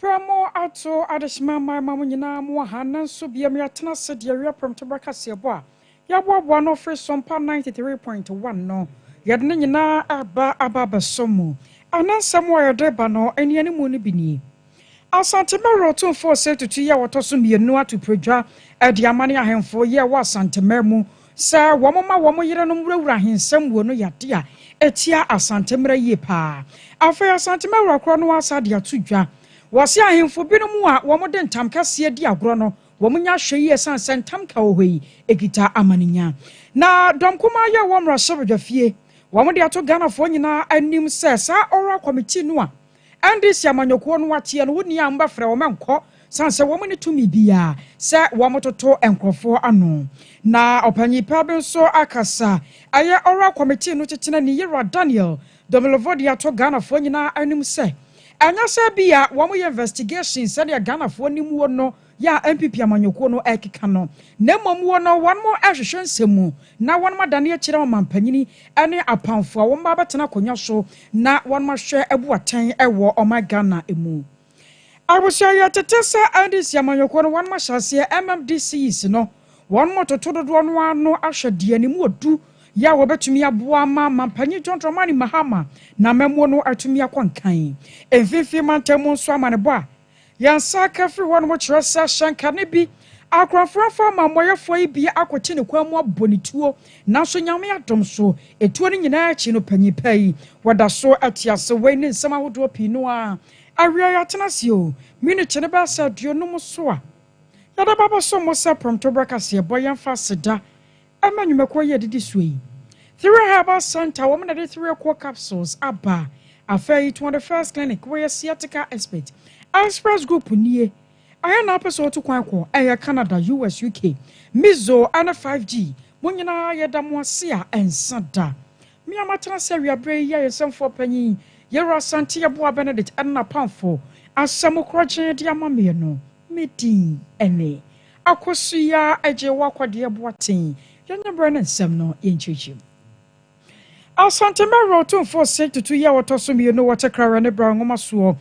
Berɛ mo ato adehyema mma ɛma mo nyinaa mo wɔ ha nanso bia mo yɛatena ase deɛ wia prɛmto berɛ kaseɛ bɔ a yɛaboaboa ano firi so mpa 93.1 no yɛde ne nyinaa ɛreba aba abɛso mo ɛnɛ nsɛm a yɛde reba no anianimu no bi nie Asante Mmerɛ Otumfoɔ Osei Tutu yɛ ɔtɔ so mmienu ato pradwa ɛde amane ahemfo yɛ ɛwɔ Asante Mmerɛ mu Sɛ wɔma wɔn yerenom wurawura ahensɛm mu no yɛ ade a etia Asante mmara yie paa. Afei Asante Mawura korɔ no ara saa de ato dwa. Wɔse ahemfo binom a wɔde ntam kɛseɛ di agorɔ no, wɔnya ahwɛyie ɛsiane sɛ ntam ka wɔ hɔ yi kita amaninya. Na dɔm kumaa yɛ wɔ mmarahyɛbadwafie. Wɔde ato Ghanafoɔ nyinaa anim sɛ saa Oral Committee no a Ɛnde sɛ amanyɔkuo no akyeɛ no, wo nni a mobɛfrɛ wɔn nkɔ, sane sɛ wɔn nni tumi biara sɛ wɔtoto nkurɔfoɔ ano. Na ɔpanyin pa bi nso akasa, ɛyɛ Oral Committee no Titenani Yera Daniel Domilovo de ato Ghanafoɔ nyinaa anim sɛ, ɛnyɛ sɛ ebia wɔyɛ investigation sɛdeɛ Ghanafoɔ nim wɔ no, yɛ a NPP amanyɔkuo no ɛrekeka no, na mmom wɔ no wɔnom ɛrehwehwɛ nsɛm mu na wɔnom adane akyerɛ ɔmanpanyini ɛne apamfoɔ a wɔnom ba bɛtena akonnwa so na wɔnom ahwɛ abu atɛn ɛwɔ ɔman Ghana mu. Abusua yɛ tete sɛ NDC amanyɔkuo no wɔnom ahyɛ aseɛ MMDCs no wɔnom retoto dodoɔ no ara ano ahwɛ deɛ ne mu ɔdu yɛ a wɔbɛtumi aboa ama Manpanyin John Dramani Mahama n'amammuo no atumi akɔ nkan mfinfii mantam mu nso amanebɔ a Yɛn nsa aka afiri hɔnom kyerɛ sɛ ahyɛnka no bi akorɔmfoɔ afa ama amumɔyɛfoɔ yi bi akɔte ne kwan mu abɔ ne tuo, nanso Nyame adom so, etuo no nyinaa akyi no panyin pa yi, wɔda so te ase, wei ne nsɛm ahodoɔ pii no a awia yɛatena ase o, minute no bɛyɛ sɛ aduonum so a yɛde bɛbɛso mo sɛ prɔmtoberɛ kaseɛbɔ, yɛmfa aseda Ɛma nnwumakuo yi a ɛdidi soɔ yi. Thiree Herbal Centre wɔn na ɛde Thiree Cough Capsules aba. Afei yi Tuade First Clinic wɔyɛ Sciatica Expert. Express Group nie. Ɛhe na wopɛ sɛ wotu kwan kɔ? Ɛyɛ Canada, US, UK. Mizo ne 5G. Mo nyinaa yɛda mo ase a ɛnsa da. Me a matena ase awia berɛ yi yɛ ayɛnsɛmfoɔ panyin Yero Asante Yeboah Benedict ɛne n'apamfoɔ asɛm korɔgyee de ama meɛ no. Me din ne, Akɔso yi ara agye wo akɔdeɛ Boateng yɛnyɛ berɛ na nsɛm no yɛnkyerɛkyerɛ mu Asantehene Werɛ Ɔtomfoɔ se tutu yi a wɔtɔ so mmienu wɔ Tekrawe ne Bra Nwoma soɔ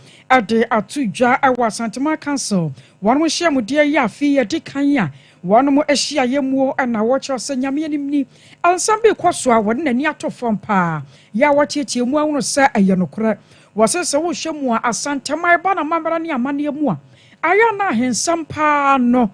de ato dwa wɔ Asanteman Council wɔnom nhyiamudeɛ Ɛyɛ afe yi adi kan a wɔnom hyiaeɛ muo na wɔkyerɛ sɛ Nyame anim ni nsɛm bi rekɔ so a wɔde n'ani ato fam paa yɛ a wɔteatea mu ahunu sɛ ɛyɛ nokorɛ Wɔse sɛ wohyɛ mu a, Asanteman ɛba n'amammerɛ ne amanneɛ mu a, ɛyɛ a na ahensɛm pa ara no,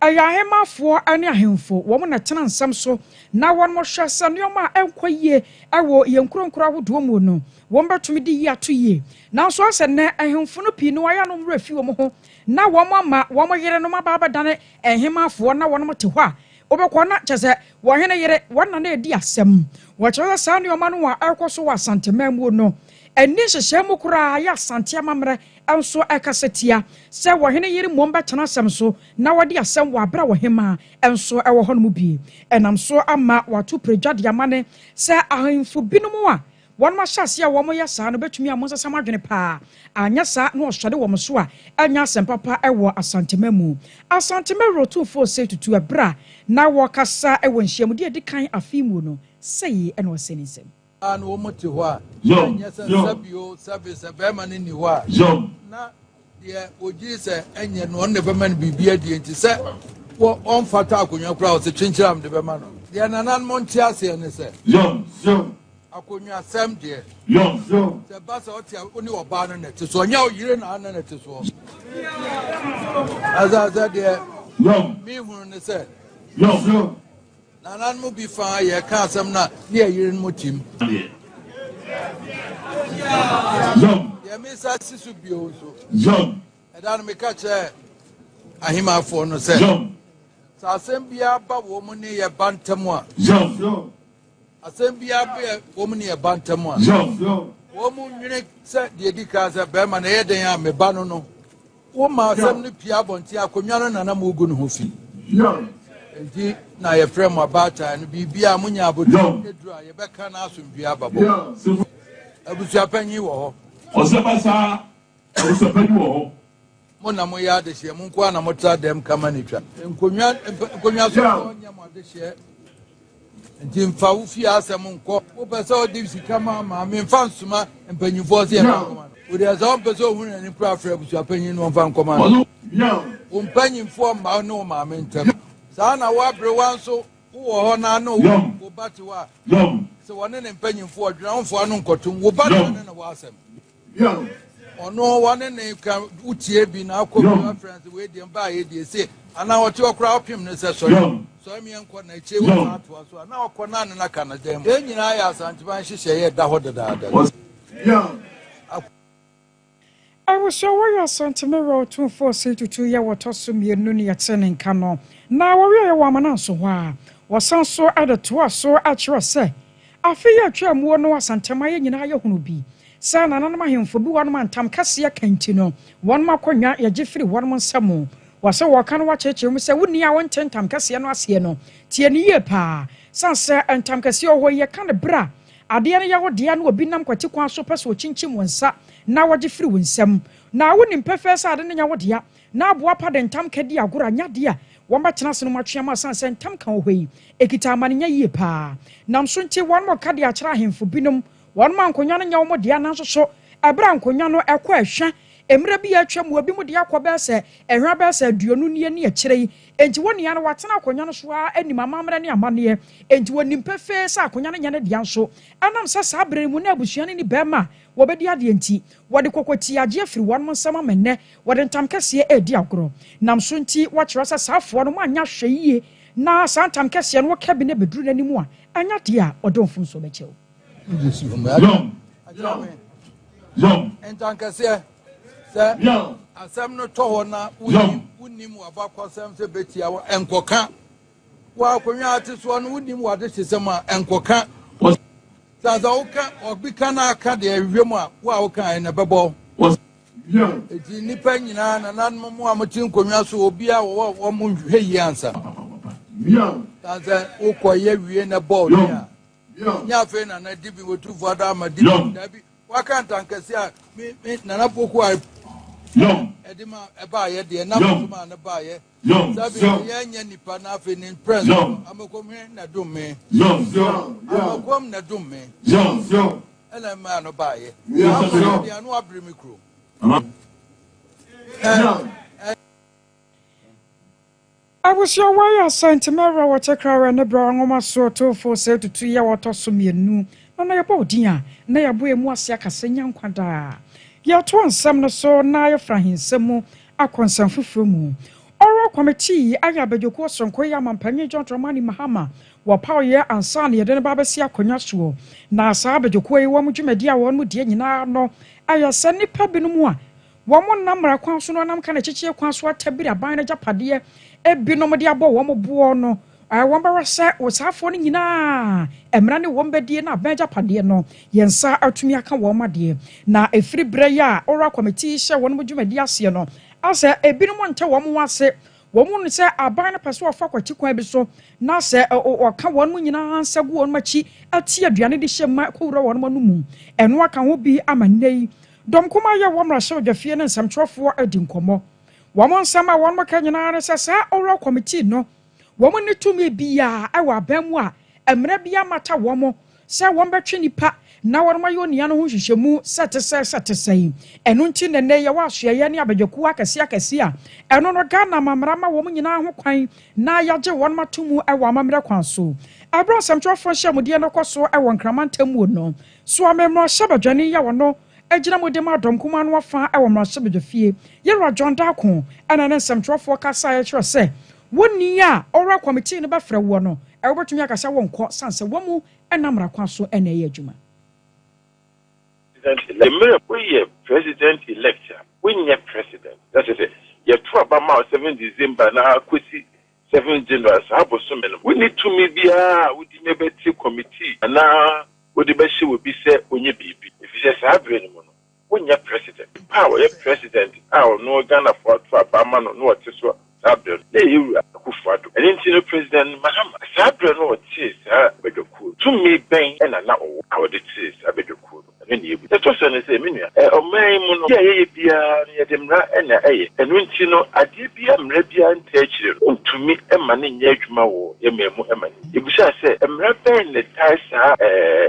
ɛyɛ ahemmafoɔ ne ahemfo, wɔn na ɛtena nsɛm so, na wɔhwɛ sɛ nneɛma a ɛnkɔ yie wɔ yɛn nkuro nkuro ahodoɔ mu no, wɔbɛtumi de yi ato yie. Nanso ayɛ sɛ nnɛ ahemfo no pii no wɔayɛ a na wɔn werɛ afi wɔn ho, na wɔama wɔn yerenom aba abɛdane ahemmafoɔ na wɔn te hɔ a Wobɛkɔ na kyerɛ sɛ wɔn hene yere, wɔn nna na edi asɛm. Wɔkyerɛ sɛ saa nneɛma no a ɛrekɔ so wɔ Asanteman mu no nni nhyehyɛe mu koraa a ɛyɛ Asante amammerɛ nso kasa tia sɛ wɔn hene yere mmom bɛtena asɛm so na wadi asɛm wɔ bere a ɔhemmaa nso wɔ hɔnom bi. Ɛnam so ama wɔato piridwa de ama ne sɛ ahemfo binom a Wɔn ahyɛaseɛ a wɔyɛ saa no bɛtumi ama wɔasesa wɔn adwene pa ara, anyɛ saa na wɔsɔre wɔn so a, ɛrenyɛ asɛmpa pa wɔ Asantema mu. Asantema Wura Otumfoɔ Osei Tutu, ɛberɛ a na ɔrekasa wɔ nhyiamudie a ɛdi kan afe yi mu no, sɛi na ɔsee ne nsɛm. Ɔbaa no wɔn te hɔ a, na ɛnyɛ sɛ nsa bio sɛbe sɛ barima no nni hɔ a, na. deɛ ogyee sɛ ɛnyɛ no ɔno na ɛbɛma no biribi adie nti sɛ wɔ ɔmfata akonnwa koraa ɔsɛ kyenkyeram mede bɛma no deɛ nananom nte aseɛ ne sɛ yɔn yɔn akonnwasɛm deɛ yɔn yɔn sɛ ba sɛ ɔte a ɔne ɔbaa no na ɛte soɔ nyɛ ɔyere na ana na ɛte soɔ ɛsɛ sɛ deɛ yɔn mehunu ne sɛ yɔn yɔn Nananom bi fa ara yɛ ka asɛm no a ne yɛ yere mo tim. Yɛ me sa si so bio nso. Ɛda no meka kyerɛ ahemafoɔ no sɛ sɛ asɛm biara ba wɔn mu ne yɛ ba ntam a asɛm biara bɛ wɔn mu ne yɛ ba ntam a wɔn mu nwene sɛ deɛ di kan sɛ bɛrima na ɛyɛ dɛn a me ba no no Woma asɛm no pie abɔnten, akonnwa no na na mogu ne ho fi. Enti na yɛfrɛ mo abaatan no, biribiara a monya abotiri aduru a, yɛbɛka na asomdwoe aba bɔ. Abusuapanyin wɔ hɔ. Ɔsɛba saa, abusuapanyin wɔ hɔ. Mo na moyɛ adehyeɛ, mo nko ara na motra dɛm kama na etwa. Nkonnwa, nkonnwa so nyɛ mo adehyeɛ. nti mfa wo fie asɛm nkɔ wopɛ sɛ ɔde sika ma maame mfa nsoma mpanyimfoɔ sɛ yɛmfa nkɔma no wode ɛsɛ ɔmpɛ sɛ ɔhu n'ani kora frɛ abusuapanyin no ɔmfa nkɔma no wo mpanyimfoɔ mma ne wo maame ntam saa na woaberewa nso wowɔ hɔ na ano wo ba te hɔ a sɛ wɔne ne mpanyimfoɔ ɔdwenamfoɔ ano nkɔtom wo ba ne ne ne wɔ asɛm Young. Ɔno wɔne ne ka wotie bi na akɔ bi afrɛ sɛ wei deɛ mbaa yɛ die se anaa ɔte hɔ koraa ɔpem no sɛ sɔre sɔre meɛ nkɔ na akyire wɔ saa atoa so a na ɔkɔ na ne na ka no dan mu yɛn nyinaa yɛ asanteman nhyehyɛ yɛ da hɔ dedaada Abusua wɔyɛ Asanteme wɔ Otumfoɔ Osei Tutu yɛ wɔtɔ so mmienu ne yɛte ne nka no na wɔwieɛ wɔ Amananso hɔ a wɔsan so de toa so kyerɛ sɛ Afe yi a etwaa mu hɔ no asantehemaeɛ nyinaa yɛ hono bi sɛ nananom ahemfo bu wɔnom a ntam kɛseɛ ka nti no wɔnom akonnwa yɛgye firi wɔnom nsa mu. Wɔse wɔka no wɔakyerekyere mu sɛ wonni a wonte ntam kɛseɛ no aseɛ no tie no yie paa sane sɛ ntam kɛseɛ wɔ hɔ yi yɛka no berɛ a adeɛ no yɛ wo dea na obi nam kwati kwan so pɛ sɛ ɔkyinkyim wo nsa na ɔgye firi wo nsam na wonim pefee sɛ ade no nyɛ wo dea Ná aboapa de ntam ka di agorɔ a ɛnyɛ adeɛ a wɔbɛtena ase nom atwe ama ɛsiane sɛ ntam ka wɔ hɔ yi kita amanenya yie paa. Nam so nti, wɔnom ka de akyerɛ ahemfo binom. Wɔnom a nkonnwa no nyɛ wɔn dea nanso so ɛberɛ a nkonnwa no ɛkɔ ɛhwa mmerɛ bi a atwa mu, ebinom de akɔ bɛyɛ sɛ ɛhwa bɛyɛ sɛ aduonu nie ne akyire yi. Enti wɔn nyinaa no wɔatena akonnwa no so ara nim amammerɛ ne amanneɛ enti wɔnim pefee sɛ akonnwa no nyɛ ne dea nso ɛnam sɛ saa berɛ no mu na abusua no nni bɛrima a wɔbɛdi adeɛ nti wɔde kɔkɔtiagyeɛ firi wɔnom nsam ama nnɛ Wɔde ntamkɛseɛ redi agorɔ. Nam so nti wɔkyerɛ sɛ saa afoa no moanyɛ ahwɛ yie na saa ntamkɛseɛ no woka bi na ɛbɛduru n'anim a, ɛnyɛ adeɛ a ɔde wo mfomsoɔ bɛkyɛ o. Yom, yom, yom. Ntankɛseɛ, Sɛ asɛm no tɔ hɔ na wonim w'abakɔsɛm sɛ bɛtia wo a, nkɔka Wɔ akonnwa a ate soɔ no, wonim w'adehyesɛm a, ɛnkɔka wɔ saa sɛ woka obi ka na aka deɛ ɛhwehwɛ mu a, wo a wokaeɛ na ɛbɛbɔ wɔ Enti nnipa nyinaa, nananom mu a mote nkonnwa so, obiara wɔwɔ wɔn mo nhwehwɛ yie ansa. Saa sɛ wokɔyɛ wie na ɛbɔ ɔne a, nyɛ afei na na dibi wɔtumfoɔ ada ama dibi daabi waka ntankɛse a me me nana poko a ɛde ma ɛbaayɛ deɛ nam so maa no baayɛ Yɔn Yɔn Abusua wai asa nti mɛwura wɔ kyɛ kra wɛ ne bra nwoma soɔ tofo sɛ tutu yɛ wɔ tɔ so mienu na na yɛ bɔ odin a na yɛ bɔ emu ase akasa nya nkwa daa yɛ toɔ nsɛm no so na yɛ fra ahinsɛm mu Akwansɛm foforɔ mu, Oral Committee yi ayɛ abadwokuo soronko yi ama Mpanin John Dramani Mahama wɔpaw yɛ ansa na yɛde no ba abɛsi akonnwa soɔ. Na saa abadwokuo yi wɔn dwumadie a wɔnom die nyinaa no ɛyɛ sɛ nnipa binom a wɔn nnam mmara kwan so na wɔnam ka na ɛkyekyee kwan so atabiri aban no agyapadeɛ binom de abɔ wɔn boɔ no Ɛwɔ mu ara sɛ ɔsaafoɔ no nyinaa mmara ne wɔn bɛdie na abɛn agyapadeɛ no, yɛn nsa atumi aka wɔn adeɛ. Na ɛfiri berɛ yi a Oral Committee hyɛɛ wɔnom dwumadie aseɛ no, asɛ ebinom nte wɔn ho ase. Wɔhu no sɛ aban no pɛ sɛ ɔfa kwati kwan bi so na asɛ ɔka wɔnom nyinaa nsa gu wɔnom akyi te aduane de hyɛ ma ɛkɔwura wɔnom ano mu. Ɛno aka ho bi ama nnɛ yi dɔm kumaa yi a ɛwɔ mmarahyɛbadwafie ne nsɛmtwerɛfoɔ adi nkɔmmɔ. Wɔn nsɛm a wɔnom ka nyinaa ara ne sɛ saa Oral Committee no Wɔn nni tumi biara wɔ aban mu a mmara biara mmata wɔn sɛ wɔbɛtwe nnipa na wɔayɛ onua no ho nhwehwɛmu sɛ ɛte sɛn sɛ ɛte sɛn. Ɛno nti na nnɛ yɛwɔ asoɛeɛ ne abadwakuo akɛseɛ akɛseɛ a ɛno no Ghana amammerɛ ama wɔn nyinaa ho kwan na yɛagye wɔn ato mu wɔ amammerɛ kwan so. Ɛberɛ a nsɛmtwerɛfoɔ nhyiamudeɛ no rekɔ so wɔ Nkraman Temmuo no, Soame Mmarahyɛbadwani a ɔno Gyina mu de ma dɔm kumaa no afã wɔ mmarahyɛbadwafie. Yɛwura John Darko na ne nsɛmtwerɛfoɔ kasaeɛ kyerɛɛ sɛ wo ni a ɔwura kɔmitii no bɛfrɛ woɔ no, wobɛtumi aka sɛ wonkɔ sane sɛ wamu na mmara kwan so na ɛyɛ adwuma. President elect mmerɛ woyɛ president elect a wonyɛ president na kyerɛ sɛ yɛto aba ma wo seven December na kɔsi Seventh January, saa bosome no, wonni tumi biara a wode me bɛte kɔmitii anaa wode bɛhyɛ obi sɛ ɔnyɛ biribi, efisɛ saa berɛ no mu no, wonyɛ President. Nipa a ɔyɛ President a ɔno Ghanafoɔ ato aba ama no na ɔte so saa berɛ no, na ɛyɛ Wura Akuffo Addo. Ɛno nti no, President Mahama, saa berɛ no ɔtee saa badwakuo no, tumi bɛn na na ɔwɔ a ɔde tee saa badwakuo no? Ɛno na yɛbu. Deɛ ɛtɔ so ne sɛ, me nua, ɔman yi mu no, adeɛ a yɛyɛ biara no, yɛde mmara na ɛyɛ. Ɛno nti no, adeɛ biara a mmara biara ntaa akyire no, wontumi mma no nyɛ adwuma wɔ yɛn man mu mma no nni. Yɛbisaa sɛ, Mmara bɛn na ɛtaa saa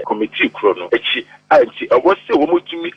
Kɔmitii korɔ no akyi a nti ɛwɔ sɛ wɔtumi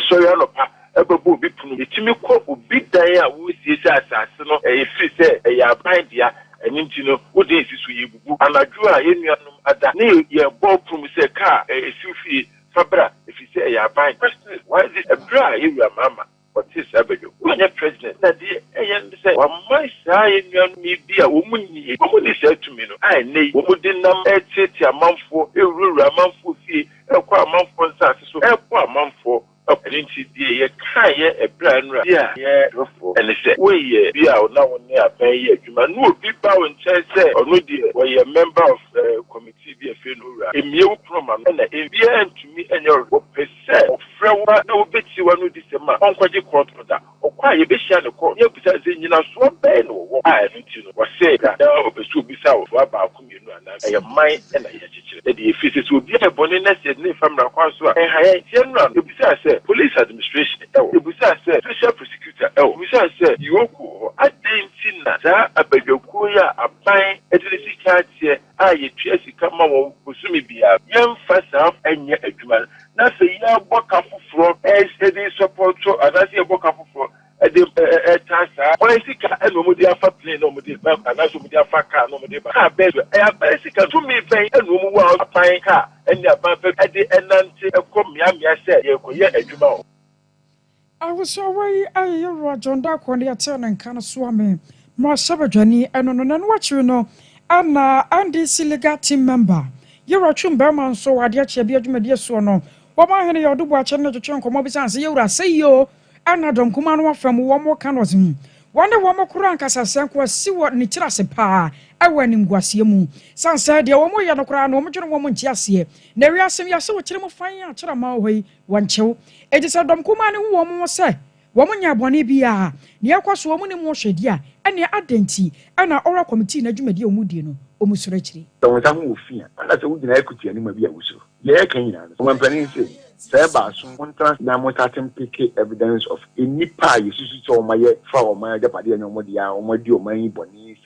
sɔre anɔpa bɛbɔ obi pono mu, yɛtumi kɔ obi dan a wɔresie sɛ asase no ɛfiri sɛ ɛyɛ aban dea, ɛno nti no wo dan si so, yɛrebubu anadwo a yɛn nuanom ada ne yɛrebɔ pono mu sɛ kaa ɛsiw fie. fa bra ɛfiri sɛ ɛyɛ aban. President why this ɛberɛ a yɛ wura Mahama ɔtee saa badwa mu wanyɛ president na deɛ ɛyɛ ne sɛ waman saa yɛ nuanom yi bi a wɔn mu nni wɔn mu nni saa tumi no a ɛnnɛ yi wɔn de nam ɛreteatea amanfoɔ ɛrewurawura amanfoɔ fie ɛrekɔ amanfoɔ nsaase so ɛrebɔ amanfoɔ ɛpo. Ɛno nti deɛ yɛ kaeɛ ɛberɛ a nnura bi a yɛ refoɔ ɛne sɛ wo yɛ bi a na wo ne aban yɛ adwuma na obi ba wo nkyɛn sɛ ɔno deɛ ɔyɛ member of ɛɛ committee. Ti bi a ɛfrɛ no Owura, mmue wo pono ma no na obiara ntumi nyɛ ɔhwɛ. Wɔpɛ sɛ ɔfrɛ wo ba na wobɛtie w'anodisɛm a ɔnkɔgye kɔɔto no da. Ɔkɔ a yɛbɛhyia no kɔɔto na yɛabisa no sɛ nnyinasoɔ bɛn na ɔwɔ a ɛno nti no ɔsɛe da na ɔpɛ sɛ ɔbisa wo ntoa baako mmienu anaa nsa. Ɛyɛ man na yɛkyekyere deɛ ɛfiri sɛ sɛ obi ayɛ bɔne na sɛ yɛde no mfa mmara kwan so a ɛnha yɛn. Nti ɛno ano yɛbisaa sɛ Police Administration wɔ hɔ? Yɛbisaa sɛ Special Prosecutor wɔ hɔ? Yɛbisaa sɛ Yoko wɔ hɔ? Adɛn nti na saa abadwakuo yi a aban de ne sika ateɛ, a yetua sika ma wɔn bosome biara. Yɛmfa saa nyɛ adwuma no, na sɛ yɛbɔ ka foforɔ de sɔpɔɔto anaasɛ yɛbɔ ka foforɔ de taa saa. Wɔn sika na wɔde afa plane na wɔde reba anaasɛ wɔde afa kaa na wɔde reba. Kaa bɛn so? Ɛyɛ aban sika. Tumi bɛn na wɔn wɔ a aban kaa ne aban fam de nante kɔ mmeammea sɛ yɛrekɔyɛ adwuma hɔ? Ahosoawa yi a yɛyɛ wɔ John Darko ne yɛtee ne nka no soa me ma ɔhyɛ badwani ɛno no. Nɛno akyiri no na NDC Legal Team Member Yewura Twum Barima nso wɔ adeɛ kyeɛ bi adwumadie soɔ no wɔn ahene Yawdu Boakye ne no twetwee nkɔmmɔ bi sane sɛ Yewura sɛ yi o ɛna Dɔnkumaa no afa mu wɔn ka no ɔse wɔne wɔn koro ankasa sɛ nko asi wɔ ne tiri ase paa ɛwɔ animguaseɛ mu sane sɛ deɛ wɔn yɛ no koraa no wɔn dwene wɔn nte aseɛ na wiase no yɛse wo tiri mu fann akyere aman wɔ hɔ yi Wɔnkyew. Enti sɛ dɔm kumaa no hu wɔn ho sɛ wɔnyɛɛ bɔne biara, nea ɛrekɔ so a wɔnnim ho hwɛdi a, ɛnneɛ adɛn nti na Ɔwora Kɔmitii no dwumadi a wɔdie no, wɔsuro akyiri? Sɛ wo nsa ho wɔ fi a, anaasɛ wugyina ha kuti anuma bi a wusuro? Nea yɛreka nyinaa no, ɔmampanyin sei no, sɛ ɛba aso a, montena ase na monsate mpeke evidence of nnipa a yesusuw sɛ wɔayɛ fa wɔn agyapade a ɛnyɛ wɔn dea a wɔadi ɔman yi bɔne sɛ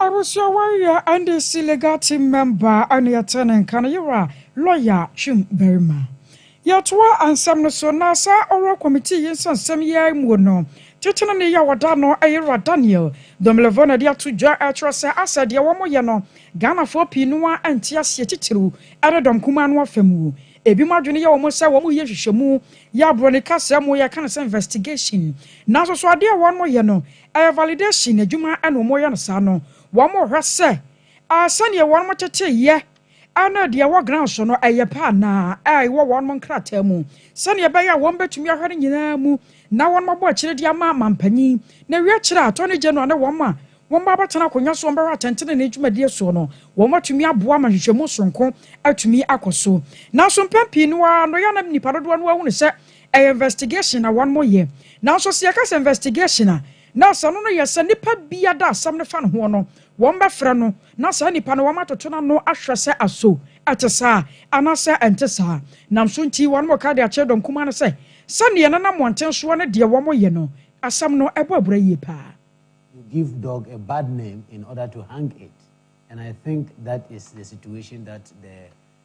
Abusuawa yi yɛ NDC legal team member ɛne yɛtee ne nka no yera lawyer Twum barima. Yɛtoa nsɛm no so na saa oral committee yi nsɛnsɛm yi ara muo no titenani yi a wɔda no yera Daniel Domelevo na ɛde ato dwa ɛkyerɛ sɛ asɛ deɛ wɔn yɛ no Ghanafoɔ pii no ara nte aseɛ titiriw ɛne dɔm kumaa no afa muo. Ebinom adwene yɛ wɔn sɛ wɔn yɛ nhwehwɛmu yɛ aborɔni kasa muo yɛka no sɛ investigation nanso so adeɛ a wɔn yɛ no Ɛyɛ validation adwuma na wɔyɛ no saa no, wɔhwɛ sɛ sɛdeɛ wɔtetee yɛ ne deɛ ɛwɔ ground so no ɛyɛ pɛ anaa, ɛwɔ wɔn nkrataa mu, sɛdeɛ ɛbɛyɛ a wɔbɛtumi ahwɛ ne nyinaa mu na wɔabɔ akyire de ama manpanin, na ɛwie akyire a Attorney General ne wɔn a wɔba abɛtena akonnwa so a wɔbɛhwɛ atɛntenenee dwumadie soɔ no, wɔatumi aboa ma nhwehwɛmu sononko atumi akɔ so. Nanso mpɛn pii no ara no, ɛyɛ a na nnipa dodoɔ no ara hunu sɛ Ɛyɛ investigation na wɔn mo yɛ. Nanso sɛ yɛka sɛ investigation a, na asɛm no no yɛ sɛ nipa bi ada asɛm no fa no hoɔ no, wɔn bɛ frɛ no na saa nipa no wɔn atoto n'ano ahwɛ sɛ aso ɛte saa anaa sɛ ɛnte saa. Nam so nti wɔn mo ka de akyerɛ dɔn kumaa no sɛ sɛ neɛ ɛnana mmɔnten soɔ ne deɛ wɔn mo yɛ no asɛm no ɛbɔ abura yie paa. You give dog a bad name in order to hang it and I think that is the situation that the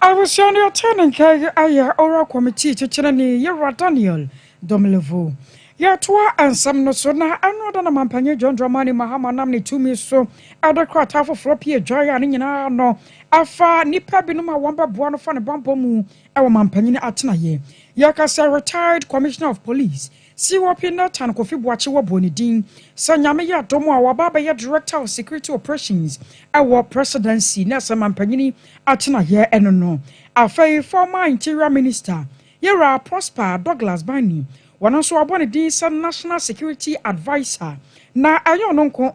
Abusua no yɛtee ne nka yi ayɛ Ora Kɔmitii Kyekyerɛni Yehowa Daniel Domelevo. Yɛtoa nsɛm no so na ɛno da na Mampanyin John Dramani Mahama nam ne tumi so de krataa foforɔ pue dwan a ne nyinaa no ɛfa nnipa binom a wɔbɛboa no fa ne bammɔ mu wɔ Mampanyin atenaeɛ. Yɛka sɛ Retired Commissioner of Police COP Nathan Kofi Boakye wɔbɔɔ ne din sɛ Nyame yɛ adom a waba abɛyɛ Director of Security Operations wɔ Presidency na sɛ Mampanyini atenaeɛ no no. Afei Former Interior Minister Yɛwura Prosper Douglas Bani, wɔno nso wɔabɔ ne din sɛ National Security Adviser na ɛnyɛ ɔno nko,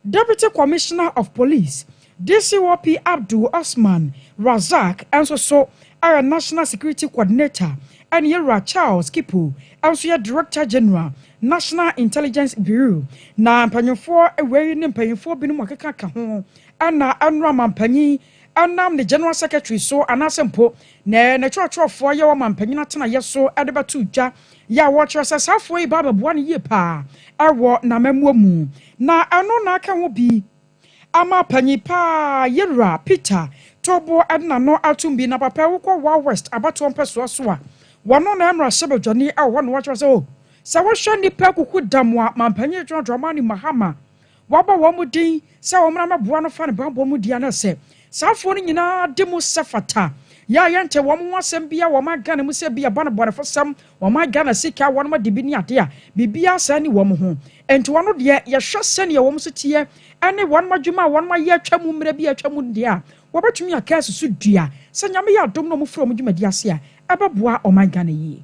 Deputy Commissioner of Police, DCOP Abdul Osman Razaq nso so yɛ National Security Coordinator ɛne Yɛwura Charles Kipo nso yɛ Director General, National Intelligence Bureau. Na mpanyimfoɔ wei ne mpanyimfoɔ binom a ɔkeka ka ho ɛna ɛnora Mampanyin nam ne General Secretary so anaasɛ mpo ne ne twerɛtwerɛfoɔ ayɛ wɔ manpanyin atenaeɛ so de bɛto dwa yɛ a wɔkyerɛ sɛ saa afoa yi ba abɛboa no yie pa ara wɔ n'amammuo mu. Na ɛno na aka ho bi ama panyin pa ara Yewura Peter to bo de n'ano atom bi. Na papa yi wokɔ Wa West abatoɔ mpɛsoa so a, wɔno na yɛ mmarahyɛbadwani wɔ hɔ na wɔkyerɛ sɛ o, sɛ wohwɛ nnipa akuku dam a manpanyin John Dramani Mahama Wabɔ wɔn din sɛ wɔmmra mmɛboa no fa ne bammɔ mu di anaa sɛ saa afoɔ no nyinaa de mu sɛ fata. Yɛ a yɛntee wɔn ho asɛm biara wɔ ɔman Ghana mu sɛ ebi ɛba no bɔnefosɛm, ɔman Ghana sika, wɔnom adi bi ne adeɛ a, biribiara saa nni wɔn ho. Enti wɔn deɛ, yɛhwɛ sɛdeɛ wɔn nso teɛ ɛne wɔnom adwuma a wɔnom ayɛ atwa mu mmerɛ bi a atwa mu no deɛ a, wɔbɛtumi aka asi so dua sɛ Nyame yɛ adom na wɔfiri wɔn dwumadie ase a, ɛbɛboa ɔman Ghana yie.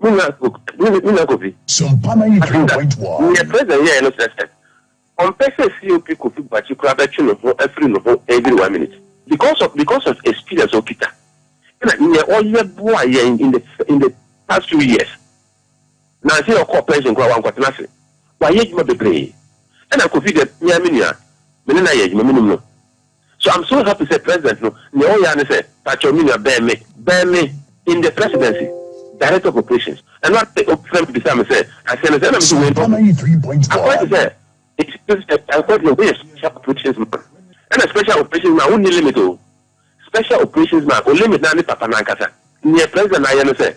Me nua Kofi, me nua Kofi, asem da, neɛ president yɛɛ no kyerɛ sɛ ɔmpɛ sɛ COP Kofi Boakye koraa bɛtwe ne ho afiri ne ho every one minute because of because of experience a okita ɛna neɛ ɔyɛ boaa yɛn in the in the past few years na sɛ ɔkɔɔ pension koraa wankɔtena ase, wayɛ adwuma bebree ɛna Kofi deɛ me ara me nua me ne no ayɛ adwuma menim no. So I'm so happy sɛ president no nea ɔyɛ ara ne sɛ pakyɛw me nua bɛn me, bɛn me in the presidency, director of operations, ɛno ara pɛ obi frɛ me bisaa me sɛ aseɛ no sɛn na me se wei no akɔyɛ te sɛ akɔyɛ te sɛ woyɛ special operations man ɛna special operations man wonni limit o, special operations man o limit no ara ne papa no ankasa, nea president no ayɛ no sɛ.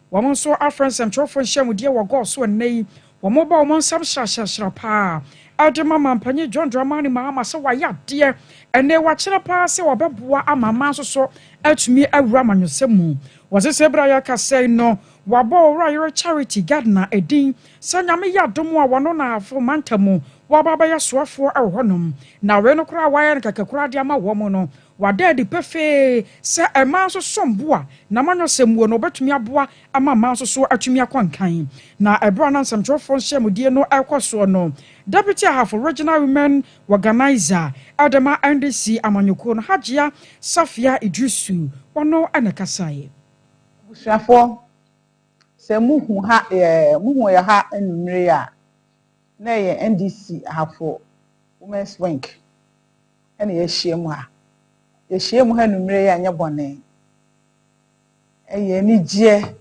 Wɔn nso afrɛ nsɛmtwerɛfoɔ nhyiamudeɛ wɔ gɔɔ so ɛnnɛ yi. Wɔbɔ wɔn nsam hyerɛhyerɛhyerɛ pa ara de ma Manpanyin John Dramani Mahama sɛ wayɛ adeɛ ɛnnɛ, wakyerɛ pa ara sɛ ɔbɛboa ama mmaa nso so atumi awura amanyɔsɛm mu. Wɔse sɛ berɛ a yɛrekasa yi no, wɔabɔ Owura Yere Charity Gardner din sɛ Nyame yɛ adom a wɔno na Ahafo Mantam mu wɔaba abɛyɛ soafoɔ wɔ hɔnom. Na wei no koraa a wɔayɛ no kɛkɛ koraa de ama wɔn no, Wada adi pefee sɛ mmaa nso som bo a n'amanyɔsɛm wɔ no, wɔbɛtumi aboa ama mmaa nso so atumi akɔ nkan. Na bere a na nsɛmtwerɛfoɔ nhyiamudie no rekɔ soɔ no, Deputy Ahafo Regional Women Organiser de ma NDC amanyɔkuo no, Hajia Safia Idrisu, ɔno na ɛkasaeɛ. Abusuafoɔ, sɛ mohu ha yɛ, mohu yɛ ha anwummere yi a, na ɛyɛ NDC Ahafo Women's Wing na yɛahyia mu ha. Yɛahyia mu ha anwummerɛ yi anyɛ bɔne. Ɛyɛ anigyeɛ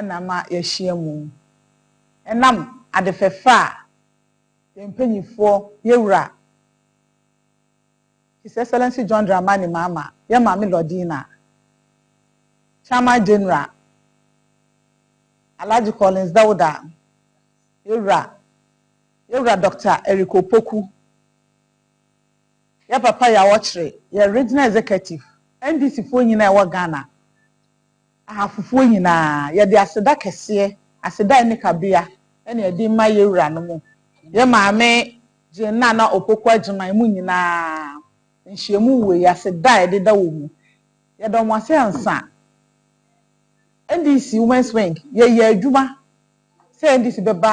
na ama yɛahyia mu. Ɛnam ade fɛfɛ a yɛn mpanimfoɔ, yɛn wura His Excellency John Dramani Mahama, yɛn Maame Lordina, Chairman General Alhaji Collins Dauda, yɛn wura, yɛn wura Doctor Eric Opoku, Yɛ papa yɛ awɔkyere yɛ regional executive NDC foɔ nyinaa ɛwɔ Ghana ahafofoɔ nyinaa yɛde aseda kɛseɛ aseda a ɛnni kabea na yɛde rema yɛ wuranom yɛ maame Jane Nana Opoku Agyemang mu nyinaa nhyiamu wei yi aseda a yɛde da wɔn mu yɛda wɔn ase ansa NDC women's wing yɛyɛ adwuma sɛ NDC bɛba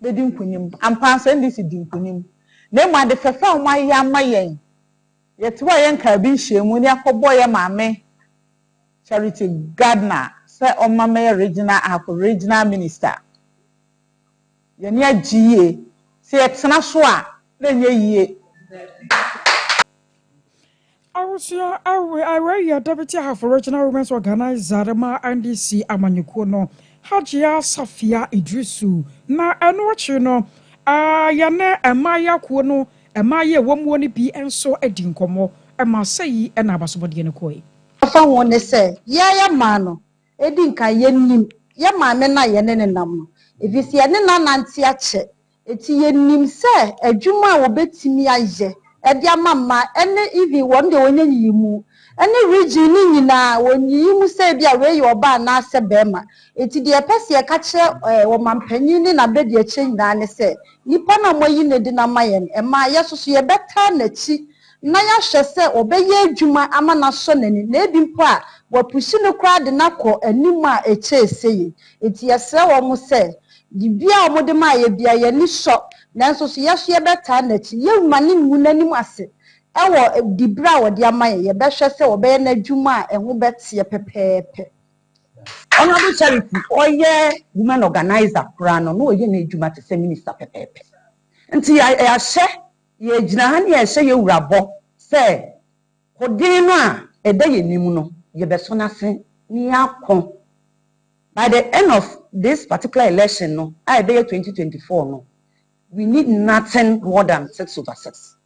bɛdi nkonim. Ampa ara NDC dii nkonim. Na mmom ade fɛfɛ a wɔayɛ ama yɛn, yɛte hɔ a yɛnkaa bi nhyiam mu na yɛakɔbɔ yɛn maame Charity Gardner sɛ ɔmma mɛyɛ regional Ahafo regional minister. Yɛn ani agye yie. Sɛ yɛtena so a na ɛnyɛ yie. Awosea awe aware yɛ Deputy Ahafo Regional Women's Organiser ma NDC amanyɔkuo no, Hajia Safia Idrisu, na ɛno akyi no, yɛne mmaayaa kuo no mmaayaa a ɛwɔ muo no bi nso dii nkɔmmɔ, ma sɛi na abasobɔdeɛ no kɔe. Fa ho ne sɛ, yɛn yɛ maa no, ɛdi nkan yɛnim yɛn maame no a yɛne no nam no, ɛfiri sɛ yɛne no anante akyɛ, Enti yɛnim sɛ adwuma a wɔbɛtumi ayɛ de ama mmaa ne even wɔn deɛ wɔnya nyiyimu ne region no nyinaa, wɔn nyiyimu sɛ ebi a wei yɛ ɔbaa anaa sɛ barima. Enti deɛ yɛpɛ sɛ yɛka kyerɛ eh, ɔmanpanin ne n'abadiakyire nyinaa ne sɛ, nipa no a moayi no adi no ama yɛn mmaa, yɛn nso so yɛbɛtaa n'akyi na yɛahwɛ sɛ ɔbɛyɛ adwuma ama no asɔ n'ani, na ebi mpo a wɔapushi no koraa de no akɔ anim a ɛkyɛɛ sei. Enti yɛsrɛ wɔn sɛ Dibea a wɔde maa yɛn biara, yɛn ani sɔ, nanso so yɛn nso yɛbɛtaa n'akyi? Yɛremma no ngu n'anim ase wɔ diberɛ a ɔde ama yɛn, yɛbɛhwɛ sɛ ɔbɛyɛ n'adwuma a ɛho bɛteɛ pɛpɛɛpɛ. Honourable Charity, ɔyɛ women organiser koraa no, na ɔyɛ n'adwuma te sɛ minister pɛpɛɛpɛ. Nti yɛahyɛ, yɛgyina ha na yɛhyɛ yɛn wura bɔ sɛ, Koden no a ɛda yɛn anim no, yɛbɛsɔ n'ase na yɛakɔ. By the end of this particular election no a ɛbɛyɛ twenty twenty four no, we need nothing more than six over six.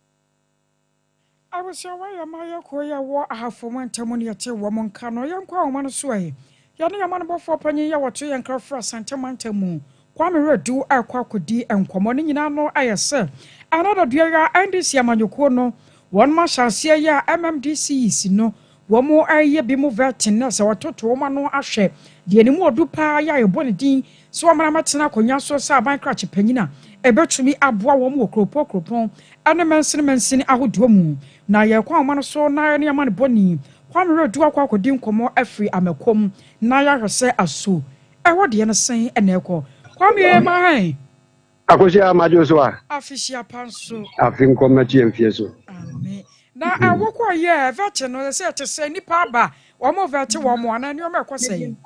Abusua wɔ yɛ mma yɛ koro yɛ wɔ ahafo ɔmo ntam ne yɛte wɔn nka no yɛnkɔ ahoma no so ɛ Yɛne yɛn amanebɔfoɔ panyin yi a ɔto yɛn kra firi Asante mantam mu, Kwame Redu rekɔ akɔdi nkɔmmɔ. Ne nyinaa ano ayɛ sɛ ɛnnɛ da dua yi ara NDC amanyɔkuo no wɔn ahyɛaseɛ yi a MMDC yi si no wɔn reyɛ bi mu vetting na sɛ wɔtoto wɔn ano ahwɛ deɛ ne mu ɔdu paa yɛ a yɛbɔ ne din sɛ wɔmmra mmɛtena akonnwa so sɛ aban krakye panyin a ebetumi aboa wɔn wɔ kuropɔn kuropɔn ne mansini mansini ahodoɔ mu, na yɛn kwan ma no so na yɛne amanebɔni Kwame Redu akɔ akɔdi nkɔmmɔ afiri Amakom na yɛahwɛ sɛ aso ɛhɔ deɛ no sɛn na ɛkɔ. Kwame Mahain. Akosua madwo so a. Afi hyia pa nso. Afi nkɔ mɛkye mfie so. Amen. Na ɛwo kɔ yɛ ɛvɛkye no sɛ ɛte sɛ nipa aba wɔn vɛkye wɔn mo anaa nneɛma ɛkɔ sɛ yɛn.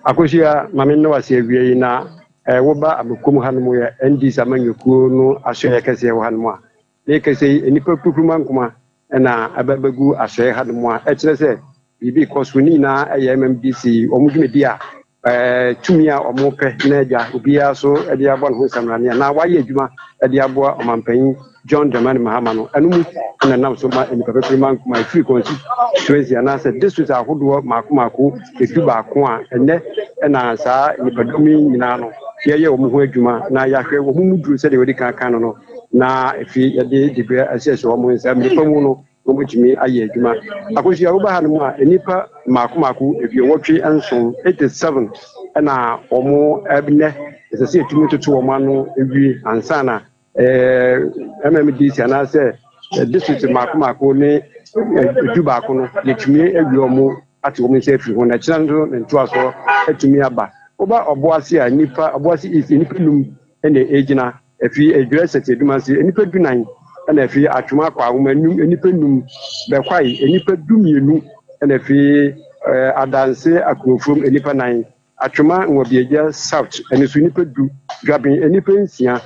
Akosua mame nna wase awie yi na ɛwo ba amokom hanom yɛ ND sama nyokuo no asoɛyɛ kɛseɛ wɔ hanom a Dee kɛsɛ yi, nnipa kurukuruma nkoma na aba bɛgu asoɛɛ hanom a ɛkyerɛ sɛ biribi rekɔ so. Ne nyinaa ɛyɛ MMDC wɔn dwumadi a ɛɛ tumi a wɔn pɛ na agya obiara so de abɔ ne ho nsaminane anaa wayɛ adwuma de aboa ɔmanpanyin John Dramani Mahama no, ɛno mu na ɛnam so ma nnipa kurukuruma nkoma ɛfiri constituency anaa sɛ district ahodoɔ maako maako ɛdu baako a ɛnɛ ɛna saa nnipa dɔm yi nyinaa no yɛyɛ wɔn ho adwuma na yɛahwɛ wɔn mu duru sɛdeɛ wɔdi kan kan no no. na efi yɛde dibea asiesie wɔn nsa nnipa mu no wɔbɛtumi ayɛ adwuma akosua woba ha no mu a nnipa mmaako mmaako aduowɔtwe nson eighty seven ɛna wɔn ɛnɛ ɛsɛ sɛ yɛtumi toto wɔn ano wie ansa na ɛɛ mmdc anaasɛ district mmaako mmaako ne edu baako no yɛtumi awie wɔn ate wɔn nsa afiri ho na ɛkyerɛ nso ne ntoasoɔ atumi aba woba ɔboase a nnipa ɔboase east nnipa num ɛna ɛgyina Efi Edwira Sɛtsedum ase, nyimpa dunan na efi Atwom akɔ Ahoma enum, nyimpa num, Bɛkwae, nyimpa dumienu na efi Adanse Akurofuom, nyimpa nan, Atwoma Nwabiagya South no so nyimpa du, Dwaben nyimpa nsia,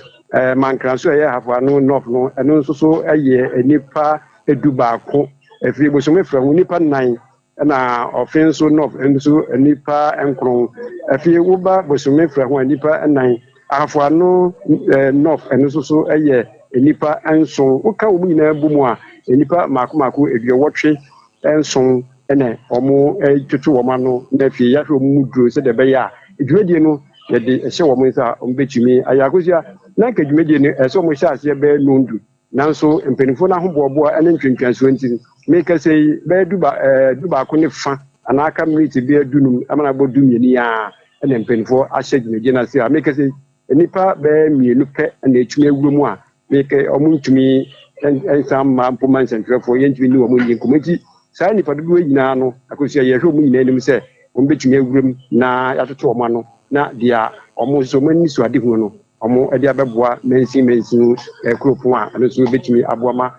Mankra so a ɔyɛ Ahafo Ano North no no so so yɛ nyimpa edubaako, efi Bosoome Frɛ ho nyimpa nan, Ɛna ɔfe nso Nov nso nnipa nkron. Afei woba bosome frɛ ho a nnipa nnan. Ahafoano Nov ɛno nso so yɛ nnipa nson. Woka wɔn nyinaa bɔ mu a nnipa mmaako mmaako aduɔwɔtwe nson na wɔtoto wɔn ano na afei yɛahwɛ wɔn mu duro sɛdeɛ ɛbɛyɛ a dwumadie no yɛde hyɛ wɔn nsa a wɔbɛtumi ayɛ. Akosua, na anka dwumadie no ɛsɛ wɔhyɛ aseɛ bɛyɛ nondu. Nanso mpanyimfo no ahoboaboa ne ntwentwɛnso nti, merekasa yi, bɛyɛ duba ɛɛ dubaako ne fã anaa aka miniti bɛyɛ dunum ma no abɔ dummienu yi ara na mpanyimfo ahyɛ dwumadie no ase. A Merekasa yi, nnipa bɛyɛ mmienu pɛ na ɛtumi awura mu a meka wɔntumi nsan mma mpo ma nsɛntwerɛfoɔ yɛntumi ne wɔn nni nkɔmmɔ. Nti saa nnipa dodoɔ yi nyinaa no, akosua yɛhwɛ wɔn nyinaa anim sɛ wɔbɛtumi awura mu na yɛatoto wɔn ano na deɛ wɔn nso wɔn anisoadehunu no wɔde abɛboa mansin mansin nkuropɔn a ɛno nso bɛtumi aboa ma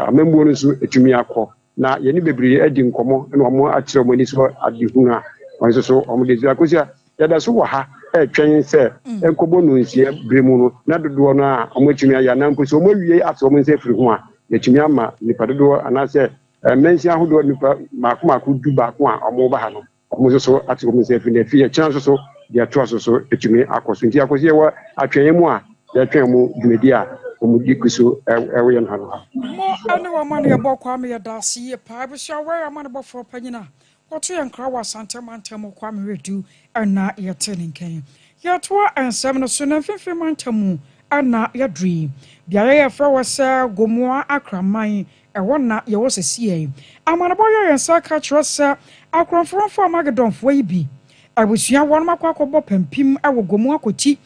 amammuo no nso ɛtumi akɔ. Na yɛne bebree adi nkɔmmɔ na wɔn akyerɛ wɔn ani so adehunu a wɔn nso so wɔn de so. Akosia, yɛda so wɔ ha ɛretwɛn sɛ nkɔbɔ no nsia bere mu no na dodoɔ no a wɔn atumi ayɛ anaa mpo sɛ wɔn awie ato wɔn nsa afiri ho a yɛtumi ama nipa dodoɔ anaasɛ mansin ahodoɔ nipa mako mako du baako a wɔn ba ha no. Mo nso so ate wɔ me nsa afi nnɛ fi ɛkyena nso so deɛ ɛtoa so so atumi akɔ so nti akɔsi yɛwɔ atwɛnyɛ mu a yɛtwɛn ɔmo dwumadi a ɔmo di gu so ɛwɔ yɛn ha no ha. Mo ɛne wɔn amanneɛbɔ Kwame yɛda ase yie paa abusua wɛn amanebɔfoɔ panyin a ɔto yɛn nkra wɔ Asante mantam mu Kwame Wedu ɛna yɛte ne nka yi yɛtoa nsɛm no so nnɛ mfimfini mantam mu ɛna yɛduru yi beaeɛ yɛfrɛ wɔ sɛ Gomoa Akraman Ɛhɔ na yɛwɔ sesiei. Amanebɔ yɛ yɛn saa ka kyerɛ sɛ akorɔmfrɔmfo Armagedonfoɔ yi bi abusua wɔnom akɔ akɔbɔ pampim wɔ gua mu akɔti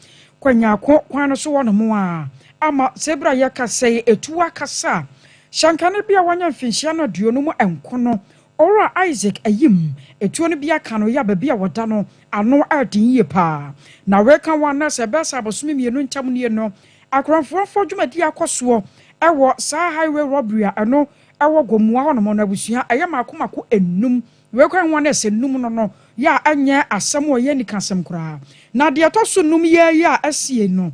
kwanyaako kwan no so hɔnom a ama sɛ bere a yɛkasa yi etuo akasa a hyɛnkane bi a wanya mfinhyia no aduonu mu nko no Owura Isaac Ayim etuo no bi aka no yɛ a baabi a wɔda no ano yɛ den yie paa na weka wɔn anaasɛ ɛbɛyɛ sɛ abosome mmienu ntam nie no Akorɔmfoɔfoɔ dwumadie akɔ soɔ wɔ saa highway robbery a ɛno ɛwɔ Gomoa hɔ nom no abusua ɛyɛ mako mako nnum wei koraa nwa nurse nnum no no yɛ a ɛnyɛ asɛm o ɛyɛ anika asɛm koraa na deɛ ɛtɔ so nnum yɛ yi a asiei no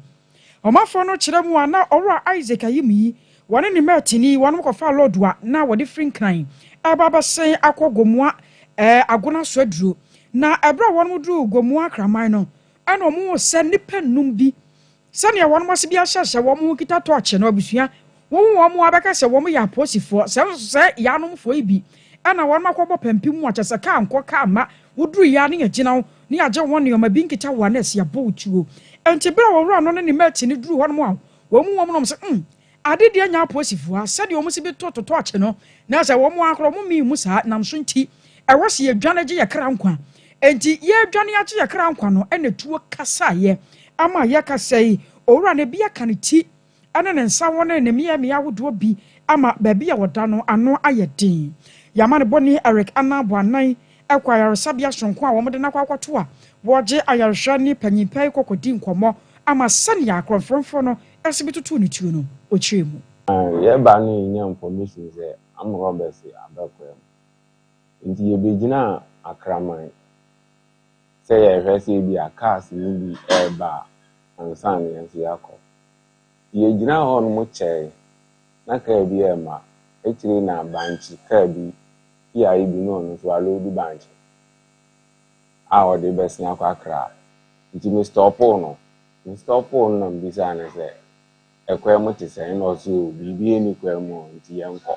Ɔmanfoɔ no kyerɛ mu a na Ɔwura Isaac Ayimyi wɔne ne mɛɛtini wɔnom kɔfaa lɔɔdu a na wɔde firi Nkran ɛreba abɛsen akɔ Gomoa ɛɛ Agona so aduro na ɛberɛ a wɔnom duruu Gomoa Kraman no ɛna wɔn sɛ nnipa nnum bi Sɛnea wɔn asedi ahyɛ sɛ wɔn ho kita tɔɔkye no, abusua wowo wɔn a bɛka sɛ wɔn yɛ apolisifoɔ, sɛ nso sɛ yaanomfoɔ yi bi na wɔn akɔbɔ pampim mu a, kyɛ sɛ kaa nkɔ kaa mma woduru yaa ne agyina wo ne yagye ho nneɛma bi nkita wo a nɛɛse abɔ wo tuo. Enti bere a owura no ne ne mate no duru hɔnom a wɔn mu wɔn nom sɛ, Umm, Ade deɛ nya aposifoɔ a sɛdeɛ wɔn si bi to to tɔɔkye no na sɛ wɔn ara koraa wɔn mii mu saa nam so nti ɛwɔ sɛ yɛdwane gye yɛ kra nkwa enti yɛredwane agye yɛ kra nkwa no ɛna tuo kasaeɛ ama yɛka sɛ owura no bi aka ne ti ɛne ne nsa wɔ ne ne mmeammea ahodoɔ bi ama baabi a ɔda no ano ayɛ den yɛama ne bɔne Eric Annan Boanan ɛkɔ ayaresabea soronko a wɔde no akɔ akɔto a wɔregye ayarehwɛ ne panyin pɛɛ kɔkɔdi nkɔmmɔ ama sɛnea akorɔmfrɔmfoɔ no Wiase bɛtotow ne tuo no, ɔkyerɛ mu. Yɛɛba no yɛnyaa information sɛ armed robbers aba kurom nti yɛbɛgyinaa Akraman sɛ yɛrehwɛ sɛ ebia cars no bi reba a ansa na yɛn nso yɛakɔ. Nti yɛgyinaa hɔnom kyɛɛe na car bi ɛrema, akyire yi na bankye car bi Kia yi bi na ɔno nso aloadu bankye a ɔde rebɛsen akɔ Accra nti me stɔɔpoo no Nistɔɔpoo no na mebisaa no sɛ, Ɛkwan mu te sɛn? Ɛnna ɔse, O, biribiara nni kwan mu o, enti yɛnkɔ.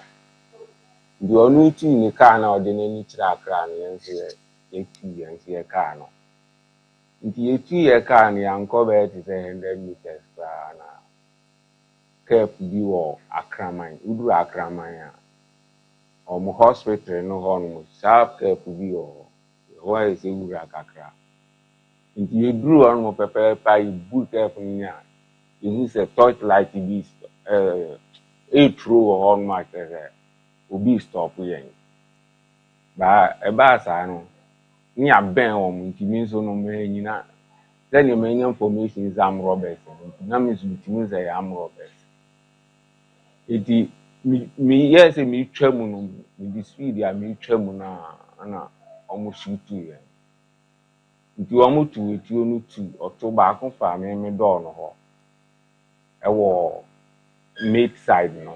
Enti ɔno retu ne kaa no a ɔde n'ani kyerɛ Accra no, yɛn nso yɛ, yɛtu, yɛn nso yɛkaa no. Enti yɛtuu yɛn kaa no, yɛankɔ bɛyɛ te sɛ hundred metres koraa na Kep bi wɔ Akraman. Woduru Akraman a, wɔn hospital no hɔnom, sharp Kep bi wɔ hɔ. Ɛhɔ ayɛ sɛ wura kakra. Nti yɛduruu hɔ nom pɛpɛɛpɛ a yɛbuu tɛɛfon no a yɛhuu sɛ torch light bi returo wɔ hɔ nom a kyerɛ sɛ obi restɔpo yɛn. Baa ɛbaa saa no ne yɛabɛn wɔn nti me nso no mannyina sɛdeɛ manya information sɛ armed robbers no nti na me nso metim sɛ ɛyɛ armed robbers. Nti meyɛɛ sɛ meretwa mu no mede speed a meretwa mu no a na wɔsuutuu yɛn. Nti wɔtoo atuo no tu ɔto baako faa me me dɔɔ no hɔ wɔ mate side no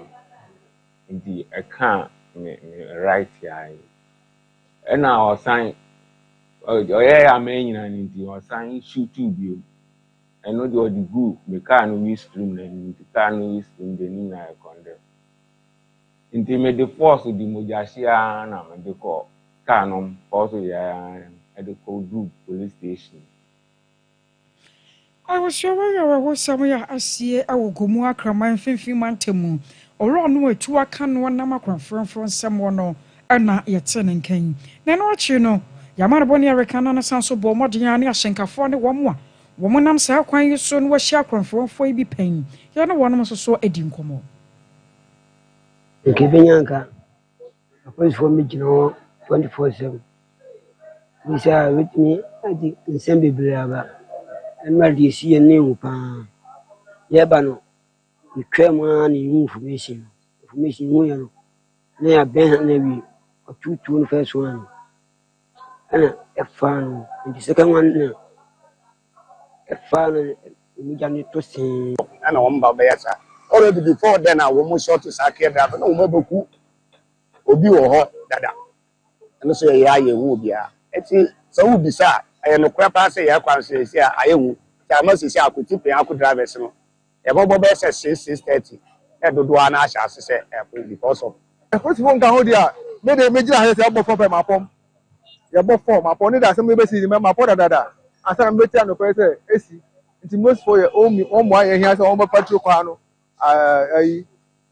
nti ɛkaa me me right eye yi ɛna ɔsan ɔyɛɛ a manyina no nti ɔsan shootuu bio ɛno deɛ ɔde guu me kaa no wheel scream no anim nti kaa no wheel scream deɛ ne nyinaa yɛ condemn. Nti mede pɔɔso de mogyahyeɛ ara na mede kɔɔ kaa no mu, pɔɔso yea ara na ɛde kɔduruu police station. Abusua awerɛhosɛm yi a asie wɔ Gomu Akraman Mfinfini Mantam mu Owura Onuatuwa Kanu Anam Akoraforɔmforɔ nsɛm wɔ no na yɛtee ne nka yi. Na ɛno akyiri no, yɛama no bɔne a yɛreka na no san nso bɔɔ mmɔden ara ne ahyɛnkafoɔ ne wɔn a wɔnam saa kwan yi so na wɔahyia akoraforɔmfoɔ yi bi pɛn. Yɛne wɔnom nso so di nkɔmmɔ. Nka ebenya nka apolisifoɔ mmɛgyina hɔ 24/7 Ɛfiri sɛ a ɛbɛtumi de nsɛm bebree aba. Ɛno a deɛ ɛsi yɛn no hu pa ara. Yɛreba no, yɛtwaa mu ara na yɛhuu information no. Information no, yɛhuiɛ no, na yɛabɛn ha no awie. Wɔtoo tuo no first one no, ɛnna yɛfaa no. Nti second one no na. Ɛfaa no mogya no tɔ see. Ɛna wɔn ba bɛyɛ saa. Already before then a wɔn short saa care driver na wɔn abɛku obi wɔ hɔ dada. Ɛno nso yɛyɛ a yɛhu obiara. Eti sɛ wobisa a ɛyɛ nokorɛ paa sɛ yɛn kwan so yɛsi a ayɛ hu. Nti ama sisi a akotipen ako drivers no Yɛbɔbɔ bɛyɛ sɛ six six thirty na dodoɔ ara no ahyɛ ase sɛ ɛɛkɔ because of. Apolisifoɔ nka ho deɛ a, me deɛ mɛgyina ha sɛ sɛ yɛbɔ fɔ pɛ mapɔm. Yɛbɔ fɔ mapɔm ne deɛ asɛm no bɛsi no mapɔ dadaada ansa na mɛte anɔpɛ sɛ ɛsi nti mosifoɔ yɛ wɔn mi wɔn mmoa yɛ hia sɛ wɔn bɛ patro kwan no ayi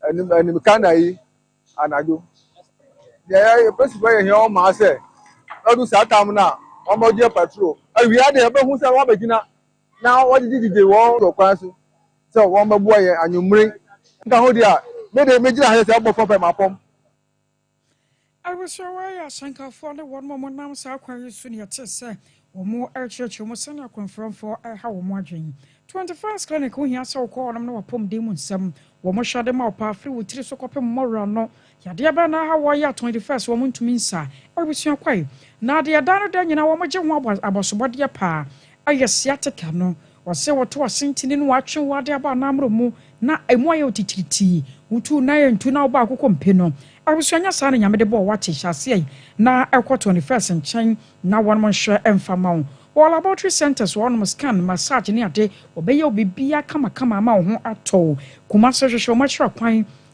anim anim kan ayi anadwo. Deɛ yɛ apolisifoɔ yɛ hia wɔn mmaa sɛ ɛdu saa tam no a wɔn bɛgye patro awia deɛ yɛbɛhu sɛ wɔn abɛgyina na wɔgyegye wɔn wɔ kwan so sɛ wɔmmɛboa yɛn anwummere nkahodi a, me de, megyina ha sɛ ɔbɔfo pɛ ma fam. Abusua wei yɛ asɛnkafoɔ ne wɔn a wɔnam saa kwan yi so na ɛte sɛ wɔrekyerɛkyerɛ mu sɛnea akwanframfoɔ reha wɔn adwene. Twenty First Clinic ho hia sɛ wokɔ hɔnom na w'apɔmuden mu nsɛm, wɔn hwɛde ma wo paa firi wo tiri so kɔpem mmɔwerano Yadeɛ bɛn na awɔ yɛ twenty first wɔn ntumi nsa abusua kwae na adeɛ da no da nyinaa wɔn gye ho abɔ abɔsobɔdeɛ paa ɛyɛ sciatica no wɔse wɔto asentene no wɔatwe wo ade abɔ anamoro mu na ɛmu ayɛ wo titiritii wotuu nan ɛntu na wobaa koko mpe no abusua nyɛ saa na nyame de bɔɔ wate hyɛ aseɛ yi na ɛkɔ twenty first nkyɛn na wɔnom nhwɛ ɛmfa ma wo wɔ laboratory centers wɔnom scan massage ne ade wɔbɛyɛ wo biribiara kamakama ama wo ho atɔ wo Kumase hwehwɛ wɔn akyerɛ kwan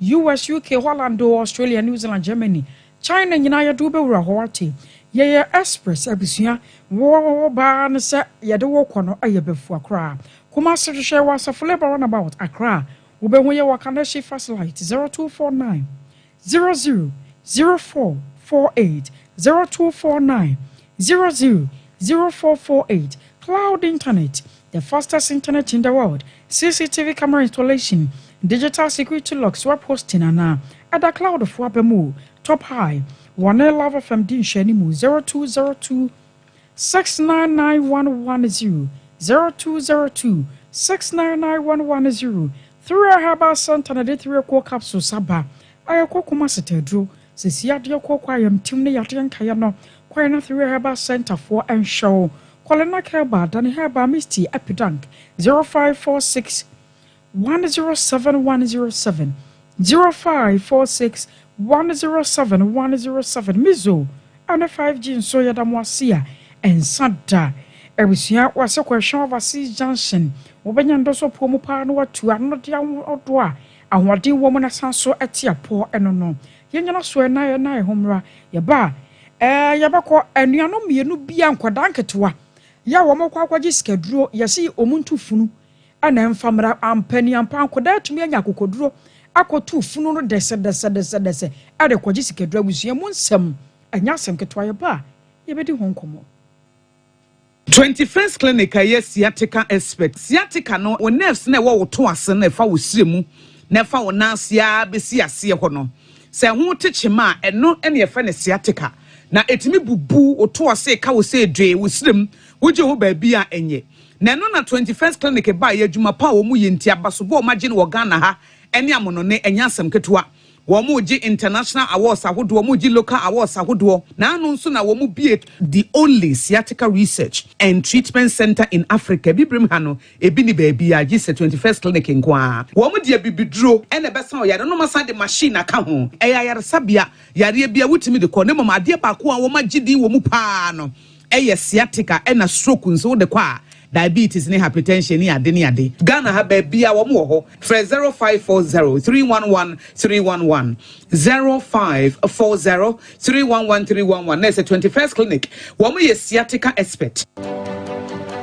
US, UK, Holland oo, Australia, New Zealand, Germany, China nyinaa yɛde wo bɛwura hɔ wate. Yɛyɛ express abusua. Wo baa no sɛ yɛde wo kɔ no ɛyɛ bɛfua koraa. Kumasi hwehwɛ wɔ Asafoleba runabout, Accra. Wobɛhu yɛ wɔ Kaneshie Fast Light, 0249 00 04 48, 0249 Zero zero zero four four eight Cloud Internet, the fastest internet in the world, CCTV camera installation, digital security locks web hosting anaa ɛda cloud fo aba mu o Top High, wɔne Love FM di nhwɛanimu zero two zero two six nine nine one one zero zero two zero two six nine nine one one zero Thria Herbal Centre na ɛde Thria Cool Capsules aba a ɛkɔ Kumasi Taduro Sɛ si yadeɛ kɔ kɔ ayamtim ne yadeɛ nkaeɛ no kwan na Three Herbal Centre foɔ nhwɛ wo. Kɔlenak Herbal, Dani Herbal Misty, Epidank, 0546 107 107, 0546 107 107, Mizo ɛne 5G nso yɛda mo ase a ɛnsa da. Abusua w'ase kɔ Ɛhwɛ Overseas Junction, wobɛnya ndɔsɔ puo mu paa na watu ano de aho ɔdɔ a Ahoɔden wɔ mu na san so te apɔ no no, yɛnyina so na yɛnna yɛn ho mmra. Yɛba a, ɛɛ, yɛbɛkɔ. Anuanom mmienu bi a, nkwadaa nketewa, yɛ a wɔkɔ akɔgye sikaduro, yɛse wɔn ntu funu na ɛmfa mmra. Ampa ni ampa, nkwadaa atumi anya akokoduro akɔtu funu no dɛsɛdɛsɛdɛsɛdɛsɛ de rekɔgye sikaduro. Abusua mu nsɛm, ɛnyɛ asɛm ketewa. Yɛba a, yɛbɛdi ho nkɔmmɔ. Twenty First Clinic a ɛyɛ sciatica expert. Sciatica no, wo nerves na ɛwɔ wo to ase no, ɛfa wo srɛ mu na ɛfa wo nan ase ara bɛsi aseɛ hɔ no. Sɛ ɛho te kyema a, ɛno na yɛfrɛ no sciatica. Na ɛtumi bubu wo to ase ka wo sɛ edwee wo srɛ mu, wogye hɔ baabi a ɛnyɛ. Na ɛno na Twenty First Clinic baeɛ, adwuma pa a wɔyɛ nti, abasobɔ a wɔagye no wɔ Ghana ha ne amonone, ɛnyɛ asɛm ketewa. Wɔregye international awards ahodoɔ, wɔregye local awards ahodoɔ, na ano nso na wɔbue the only sciatica research and treatment centre in Africa. Abibirem ha no, ebi nni baabiara gye sɛ Twenty First Clinic nko ara. Wɔde abibiduro na ɛbɛsa wo yareɛ na wɔasan de machine aka ho. Ɛyɛ ayaresabea yareɛ bi a wotumi de kɔ na mmom adeɛ baako a wɔagye din wɔ mu pa ara no Ɛyɛ sciatica ɛna stroke nso wode kɔ a diabetes ne hypertension ne ade ne ade. Ghana ha baabiaa wɔn wɔ hɔ. Frɛ zero five four zero three one one three one one, zero five four zero three one one three one one, na ɛsɛ twenty first clinic wɔn yɛ sciatica expert.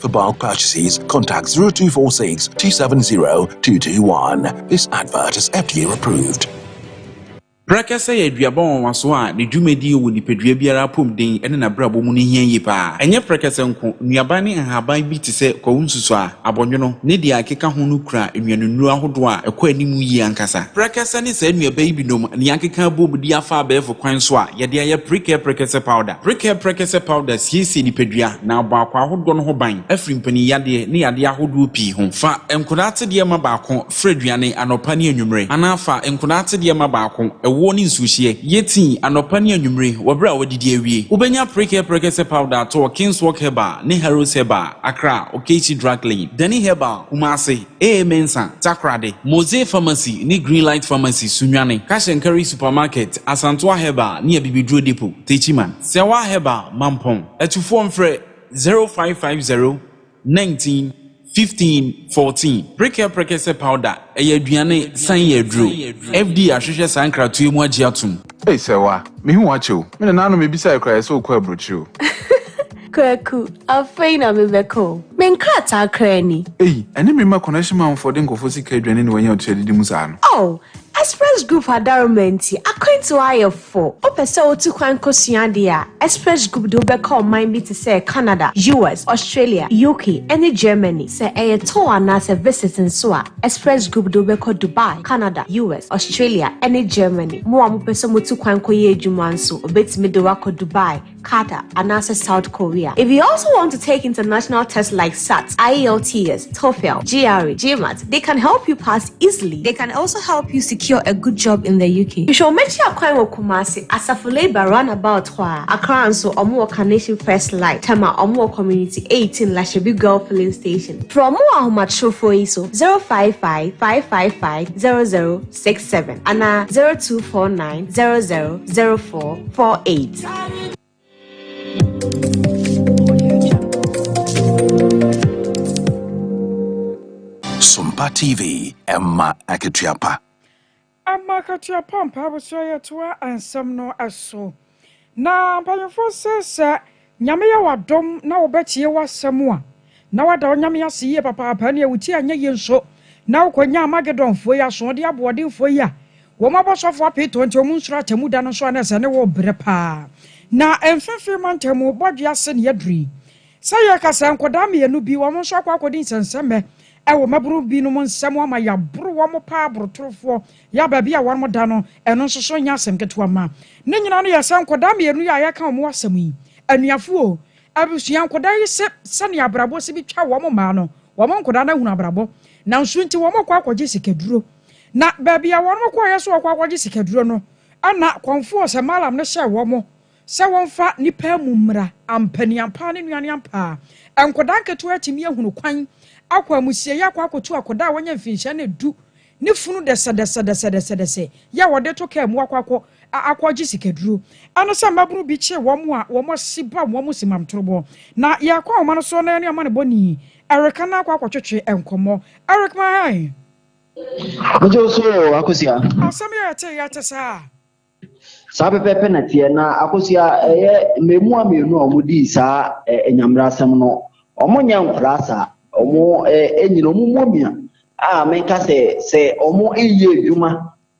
For bulk purchases, contact 0246 270 221. This advert is FDA approved. Prɛkɛsɛ yɛ aduaba nwanwaso a ne dwumadi wɔ nipadua biara apɔmuden ne n'abrabɔ mu no hia yie paa. Ɛnyɛ prɛkɛsɛ nko, nnuaba ne nhaban bi te sɛ kwawu nsusuaa, abɔnwono, ne deɛ ɛkeka ho no kura nnuanennuro ahodoɔ a ɛkɔ anim yie ankasa. Prɛkɛsɛ ne saa nnuaba yi binom na yɛakeka abom de afa abɛɛfo kwan so a yɛde ayɛ Precare Prɛkɛsɛ Powder. Prekɛ Prekɛ sɛ powder siesie nipadua na abɔ akwaa ahodoɔ no ho ban afiri mpanin yadeɛ ne yadeɛ ahodoɔ pii ho. Fa nkwadaa atsedeɛ ma baako fra aduane anɔpa ne anwummere anaa fa nkwadaa atsedeɛ ma baako ɛwoɔ ne nsuohyeɛ yɛ tii anɔpa ne anwummere wɔ berɛ a wɔadidi awie. Wobɛnya Prekɛ Prekɛ sɛ powder atɔ wɔ Kingswalk Herbal ne Harrods Herbal, Accra, Okaichi Drug Lane, Dani Herbal, Kumasi. Ee Mensa, Takoradi, Mosey Pharmacy ne Green Light Pharmacy, Sunyani, Cash and Carry Supermarket, Asantoa Herbal ne Abibiduro Depot, Techiman, Sewaa Herbal, Mampong, Atufoɔ mfrɛ 0550 19 15 14, Preker Prekese Powder, ɛyɛ aduane san yɛ aduro, FDA ahwehwɛ saa nkratoɔ yi mu agye atom. Ei Sewaa, mehu wo akyɛ o, me nananom ebisae koraa yɛ sɛ wokɔɔ aburokyire o. Kwaku, afei na mebɛka o. Me nkrataa koraa ni. Ei, ɛne me mma connection man foɔ de nkurɔfoɔ sika aduane na wɔanya ɔtua didi mu saa no. Oh, Express Group adaroma nti akwantuo ayɛ fo. Wopɛ sɛ wotu kwan kɔsua adeɛ a, Express Group de wo bɛkɔ ɔman bi te sɛ Canada, US, Australia, UK, ne Germany. Sɛ ɛyɛ tour anaasɛ visit nso a, Express Group de wo bɛkɔ Dubai, Canada, US, Australia, ne Germany. Mo a mopɛ sɛ motu kwan kɔyɛ adwuma nso, wɔbɛtumi de wo akɔ Dubai, Qatar, anaasɛ South Korea. If you also want to take international tests like SAT, IELTS, TOEFL, GRE, GMAT, they can help you pass easily. They can also help you secure a good job in the UK. Hwehwɛ wɔn akyi akwan wɔ Kumasi, Asafo Labour roundabout hɔ a. Accra nso, wɔn wɔ Carnation First Light, Tema, wɔn wɔ Community 18, Lashebi Guel Filling Station. Frɛ wɔn wɔ ahomatrofoɔ yi so, 055 555 00. six seven anaa zero two four nine zero zero zero four four eight. Sompa TV ɛma akatua pa. Ama akatua pa mpaabosrɛ yɛtoa nsɛm no so. Na mpanyimfo se sɛ Nyame yɛ wo adom na wo bɛtie wo asɛm a, na woada wo Nyame ase yie papaapa, nea wo ti anyɛ yie nso, na wo kɔ nya Armagedonfoɔ yi, asoɔden aboɔdenfoɔ yi a wɔn abɔsɔfoɔ apee tɔn nti wɔn nsuro atemmu da no nso a na ɛsɛ ne wo brɛ paa. Na mfimfini mantam mu bɔdwe ase na yɛaduru yi. Sɛ yɛka sɛ nkwadaa mmienu bi, wɔn nso akɔ akɔdi nsɛnsɛmmɛ wɔ mmabunu binom nsam ama yɛaboro wɔn paa, borotorofoɔ. Yɛ a baabi a wɔda no, ɛno nso so nyɛ asɛm ketewa mma. Ne nyinaa no yɛ sɛ nkwadaa mmienu yi a yɛreka wɔn ho asɛm yi, anuafo oo, abusua, nkwadaa yi se sɛnea abrabɔ si bi twa wɔn mmaa no, wɔn nkwadaa no ahunu abrabɔ. Nanso nti wɔkɔ akɔgye sikaduro. Na baabi a wɔkɔeɛ sɛ wɔkɔ akɔgye sikaduro no, ɛna kɔmfoɔ sɛ Malam no hyɛɛ wɔn sɛ wɔmfa nnipa amu mmra, ampa ni ampaa ne nnuane ampaa. Nkwadaa nketewa atumi ahunu kwan akɔ amusieeɛ akɔ akɔtu akwadaa a wɔanya mfinhyia no du Ne funu dɛsɛdɛsɛdɛsɛdɛsɛ yɛ a wɔde to kaa mu akɔ akɔ akɔgye sikaduro. Ɛne sɛ mmabunu bi kye wɔn a wɔn asi ba wɔn si mam torobɔ. Na yɛkɔ ahoma no so na yɛne ɔmanebɔni Eric Ana akɔ akɔtwetwe nkɔmmɔ. Eric, Mahae! Megye wo so o, Akosua. Asɛm yi a yɛtee yɛ te saa. Saa pɛpɛɛpɛ na teɛ. Na akosua ɛyɛ mmɛɛmua mmienu a wɔn dii saa ɛ nyamera asɛm no. Wɔn nyɛ nkwadaa saa. Wɔn ɛ ɛnyina wɔn mmɔ mia a menka sɛ sɛ wɔn nyɛ adwuma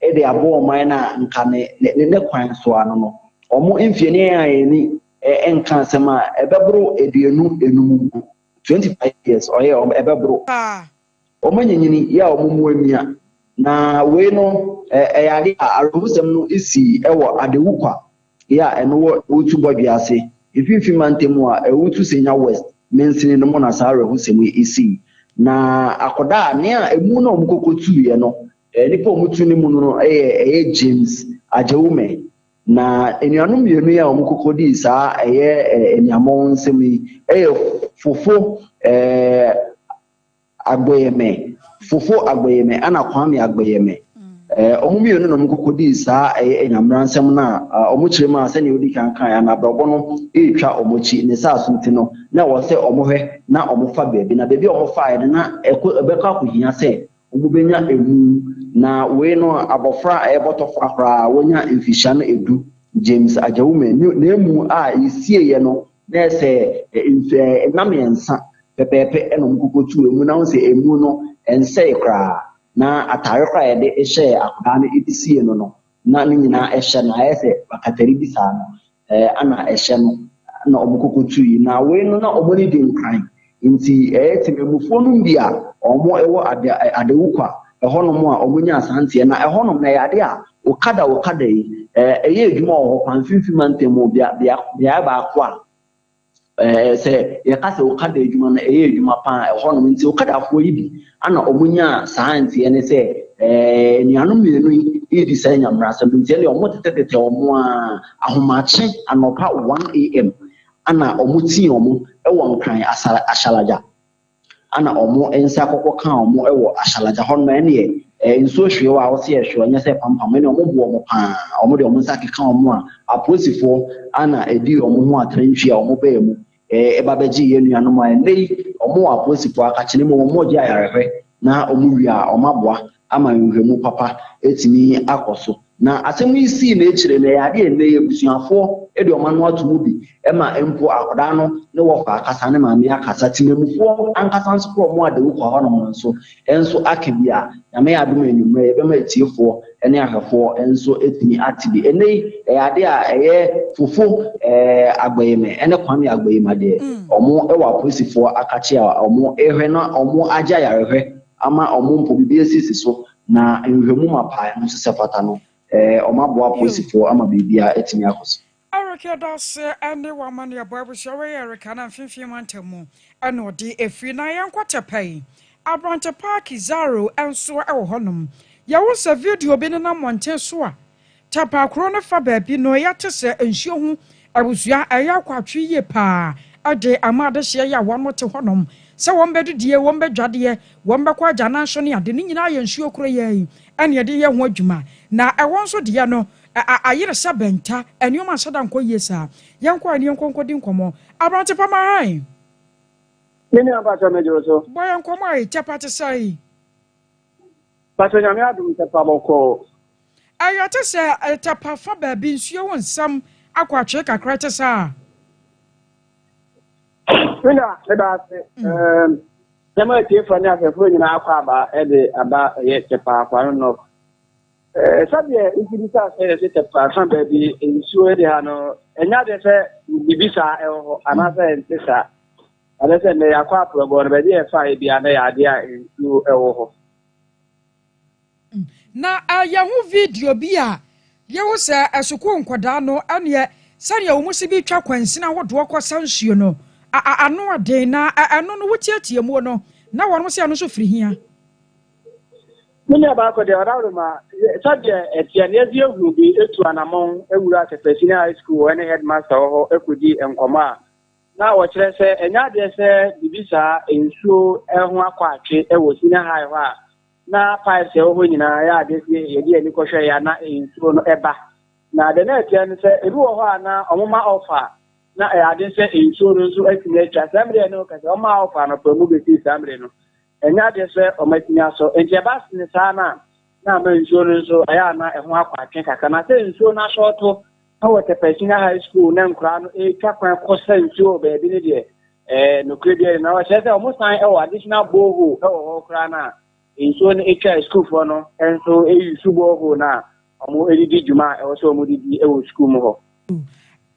ɛde abɔ ɔman no a nka ne ne ne kwan so ano no. Wɔn mfie no yɛn a yɛn ani ɛ ɛnka asɛm a ɛbɛboro aduonu ɛnum mpo. Twenty five years ɔyɛ wɔn ɛbɛboro. Paa Wɔanyinyin yɛ wɔn mmoa mia, na wei no yɛ ade a awerɛhosɛm no sii wɔ Adewu kwa yɛ a ɛno wɔ Owutu bɔdwe ase, Mfinfin Mantam mu a Owutu Senya West mansini no mu na saa awerɛhosɛm yi sii. Na akɔda a nea emu na wɔkɔkɔtuiɛ no, nipa a wɔtu ne mu no no yɛ ɛyɛ James Agyewume. Na anuanom mmienu yi a wɔkɔkɔdii saa ɛyɛ aniammɔn nsɛm yi yɛ Fofo eh, Agboyeme, Fofo Agboyeme ɛna Kwame Agboyeme. Wɔn mmienu na wɔkɔkɔdii saa ɛyɛ anyameransɛm no a wɔn kyerɛ mu a sɛdeɛ wodi kan kan a na abrabɔ no retwa wɔn akyi ne saa so nti no na ɛwɔ sɛ wɔhwɛ na wɔfa baabi na baabi a wɔfaeɛ no na ɛkɔ ɛbɛkɔ akɔhia sɛ wɔbɛnya ɛmu na wei no abɔfra a ɛyɛ bɔtɔfra koraa wɔnya mfihyia no ɛdu James Agyawume na ɛmu a ɛsieeɛ no Na sɛ nsu a ɛnna mmiɛnsa pɛpɛɛpɛ na wɔkɔkɔtuu amu na wohu sɛ amu no nsɛe koraa na atare koraa a yɛde hyɛɛ akwadaa no de siee no no na ne nyinaa ɛhyɛ no ayɛ sɛ bakatari bi saa no na ɛhyɛ no na wɔkɔkɔtui na wei no na wɔn ani di nkran Ntsi ɛyɛ tsemanmufoɔ nom bi a ɔmo wɔ Ade Adawukwa hɔ nom a ɔmo nyaa saa ntseɛ na ɛhɔ nom no ɛyɛ ade a Okada Okada yi ɛyɛ edwuma wɔ hɔ paa mfimfini mantam mu bea bea beaɛ baako a ɛɛ sɛ yɛka sɛ Okada edwuma no ɛyɛ edwuma paa ɛhɔ nom ntsi Okadafoɔ yi bi ana ɔmo nyaa saa ntseɛ no sɛ ɛɛ enuanom mmienu yi redi saa Nyamerasɛm ntsi ɛnneɛ ɔmo tetɛ tetɛ ɔmo aa ahomakye anɔpa one AM Ana ɔmo tsii ɔmo wɔ Nkran Asala Ahyɛlagya. Ana ɔmo nsa kɔkɔ kaa ɔmo wɔ Ahyɛlagya hɔ no ma ɛneɛ ɛɛ nsuo hwee a ɔse ɛhwe ɔnyɛ sɛ ɛpampam ɛneɛ ɔmo boɔ ɔmo paa ɔmo de ɔmo nsa keka ɔmo a apolisifoɔ ana ɛdii ɔmo ho atrantwie a ɔmo baa mu ɛɛ ɛba bɛgyee yɛn nuanom a ɛnɛ yi ɔmo wɔ apolisifoɔ akakyene mu ɔmo gye ayarehwɛ na ɔmo wie a ɔmo aboa ama nhwɛmu papa atumi akɔ so. Na asɛm yi sii n'ekyir no, ɛyɛ ade a ndɛ yi ebusuafo de wɔn ano ato mu bi ma mpo akwadaa no ne wɔfa akasa, ne maame akasa. Tsemanmufoɔ ankasa nso kora wɔn a dawur kɔ hɔnom no nso nso aka bi a, Nyame adom a ewimbir yɛbɛma etsiefoɔ ne ahwɛfoɔ nso atumi ate bi. Ndɛ yi ɛyɛ ade a ɛyɛ fofo, eh, Agbayemɛ ne Kwame Agbayima deɛ wɔn wɔ apolisifoɔ akakye a wɔn rehwɛ na wɔn agye ayarehwɛ ama wɔn mpo biribi asisi so Na nhwehwɛmu ma pae no nso sɛ fata no, wɔn aboa apolisifoɔ ama biribiara atumi akɔ so. Eric yɛda ase ɛne wo amanneɛbɔ abusua wei yɛ Eric Annan mfimfini mantam mu ɛna ɔde ɛfiri na yɛnkɔ Tɛpɛi abrante paa Kidzaro nso ɛwɔ hɔ nom yɛwo sɛ video bi nenam mmɔnten so a Tapakoro no fa baabi no yɛ te sɛ nsuo ho abusua a ɛyɛ akwatwe yie pa ara de ama adehyeɛ yi a wɔte hɔnom sɛ wɔbɛdidie, wɔbɛdwadeɛ, wɔbɛkɔ agyanan so ne ade. Ne nyinaa yɛ nsuo kuroyɛ yi na yɛde yɛ ho adwuma. Na ɛhɔ nso deɛ no, ayere sɛ bɛnta. Nneɛma nhyɛ da nkɔ yie saa. Yɛnkɔ a na yɛnkɔ nkɔdi nkɔmmɔ. Aberante pa ma hann. Me nua mpakyɛ megye wo so. Bɔ yɛn nkɔmmɔ a ɛtɛ pa te sɛn? Pastor Nyame adom ntɛkwa bɔkɔɔ. Ɛyɛ te sɛ tapa fa baabi nsuo wo nsam akɔ atwee kakra te saa. Mina meda ase ɛɛm sɛma atiefoɔ ne ahwɛfoɔ nyinaa akɔ aba ɛde aba ɛyɛ tɛpa akwa no nɔ ɛɛ sɛdeɛ nti bi saa sɛ yɛte tɛpa fa baabi nsuo ɛde ha no ɛnya deɛ sɛ bibi saa ɛwɔ hɔ anaasɛ ɛnte saa. Ɛbɛyɛ sɛ nnɛ yɛakɔ aporɔbɔ no, baabi a yɛfaeɛ biara na ɛyɛ adeɛ a nsuo wɔ hɔ. Hmm. Na eh, yɛho video bi a yehu sɛ eh, sukuu nkwadaa no ɛneɛ sɛdeɛ wɔn si bi twa kwansin ahodoɔ kɔ sa nsuo no, a, a, ano ɔden na eh, ɛno no wotiatia muo no na wɔn sɛ ɛno nso firi hia. Me nua baako deɛ ɔdaworo ma sɛdeɛ ɛteɛ no yɛde ahu bi etu anamɔn ewura Tɛfɛsini High School wɔ ɛne headmaster wɔ hɔ ekodi nkɔmɔ a Na wɔkyerɛ sɛ ɛnyɛ adeɛ sɛ biribi saa, nsuo, ho akɔ atwe wɔ senior high hɔ a, na pipes a ɛwɔ hɔ nyinaa ɛyɛ adeɛ sɛ yɛde yɛn ani kɔhwɛ yɛ a na nsuo no ba. Na deɛ na ɛteɛ no sɛ ebi wɔ hɔ a na wɔma ɔfa a, na ɛyɛ adeɛ sɛ nsuo no nso atumi atwa. Saa mmerɛ yɛ ne wo ka sɛ wɔmaa ɔfa anɔpa mu bɛsii saa mmerɛ no, Ɛnyɛ adeɛ sɛ wɔatumi asɔ. Enti ɛba sene saa no a, na ama nsuo no nso, ɛyɛ a na ɛho akɔ atwe kakra. Na sɛ nsuo no asɔɔto na wɔ Tɛpɛ Senior High School na nkoraa no ɛretwa kwan kɔ sa nsuo wɔ baabi no deɛ, ɛɛ, nokorɛ biara nni mu. Na wɔkyerɛ sɛ wɔsan wɔ additional borehole wɔ hɔ koraa no a, nsuo no twa a sukuufoɔ no nso use borehole no a wɔde di dwuma a ɛwɔ sɛ wɔde di wɔ sukuu mu hɔ.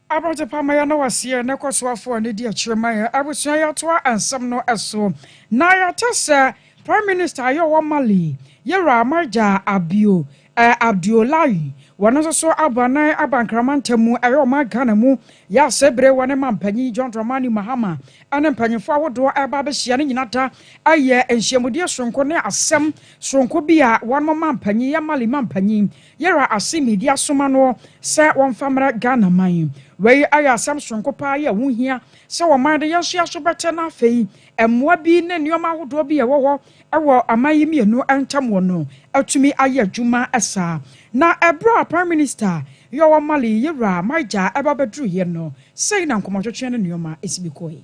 Aberantsɛ pama yɛn na ɔseɛ ne kɔsoafoɔ a n'adi akyire ma yɛn abusua yɛtoa nsɛm no so. Na yɛte sɛ Prime Minister a yɛ wɔ Mali, Yɛwura Amarja Abio eh, Abdoulaye, wɔno nso so abɔ anan aba Nkrama ntamu ɛyɛ ɔman Ghana mu, yɛ a sɛ bire wɔne Manpanyin John Dramani Mahama ɛne mpanyinfoɔ ahodoɔ ɛreba abɛhyia no nyina da ɛyɛ nhyiamudie soronko ne asɛm soronko bi a wɔnom Manpanyin, yɛ Mali Manpanyin, Yɛra ase midi asoma noɔ sɛ wɔmfa mmra Ghana man. Wei ayɛ asɛm soronko paa yɛ ɛho hia sɛ ɔman de yɛn nso yɛ aso bɛtɛ na afei mmoa bi ne nneɛma ahodoɔ bi a ɛwɔ hɔ wɔ aman yi mmienu ntam wɔ no atumi ayɛ adwuma saa. Na ɛberɛ a Prime Minister Yowah Mali, Yɛra, Maija ɛba bɛduruiɛ no, sei na nkɔmɔtwetweɛ ne nneɛma si bi kɔɔe.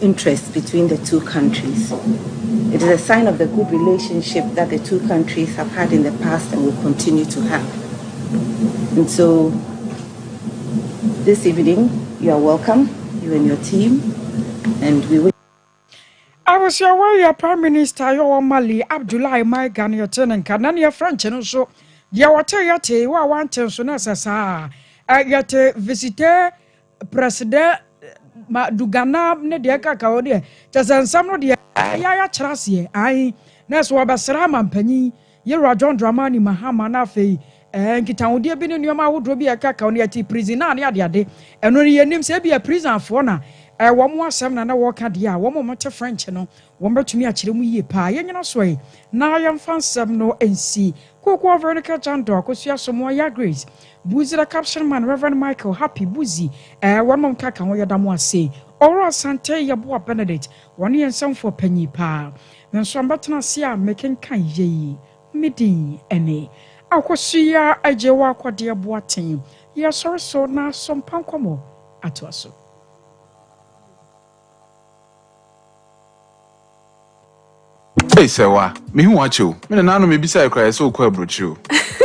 interest between the two countries. It is a sign of the good relationship that the two countries have had in the past and will continue to have. And so this evening, you are welcome, you and your team, and we wish. Abusia Warrior Prime Minister Yowa Mali Abdoulaye Maiga ne yɛte ne nka na ne yɛfrɛ nkye no nso deɛ wɔte yɛte wo a wante nso na ɛsɛ saa yɛte visite Prɛsedɛ ma Duganab ne deɛ ɛka ka hɔ deɛ kyɛ sɛ nsɛm no deɛ ɛyɛ ara kyerɛ aseɛ ae na ɛso wɔbɛsra ama mpanyin Yewura John Dramani Mahama na afei ɛɛ nkitahodeɛ bi ne nneɛma ahodoɔ bi a ɛka ka hɔ no yɛte prison a ne adeade ɛno no yɛnim sɛ ebi a prisonfoɔ na ɛɛ wɔn mo asɛm na na wɔreka deɛ a wɔn a wɔte French no wɔn bɛtumi akyerɛ mu yie paa yɛnyina so yi na yɛmfa nsɛm no nsi kokoɔ Veronica Chandor Akosua Somoa Yah Grace Budzira Caption Man Rev. Michael Happy Budzi eh Wɔnom nkaka ho yɛda mo ase Owura Asantee Yeboah Benedict Wɔno yɛ nsɛmfoɔ panyin paa Me nso ambɛtena ase a mekenkan yei Me din ne Akosua Agyewa Akɔdeɛ Boateng Yɛsɔre so na so mpa nkɔmmɔ atoa so. Ei sɛwa, mehu wakye o. Me nananom ebisae koraa yɛ sɛ wokɔ aburokyire o.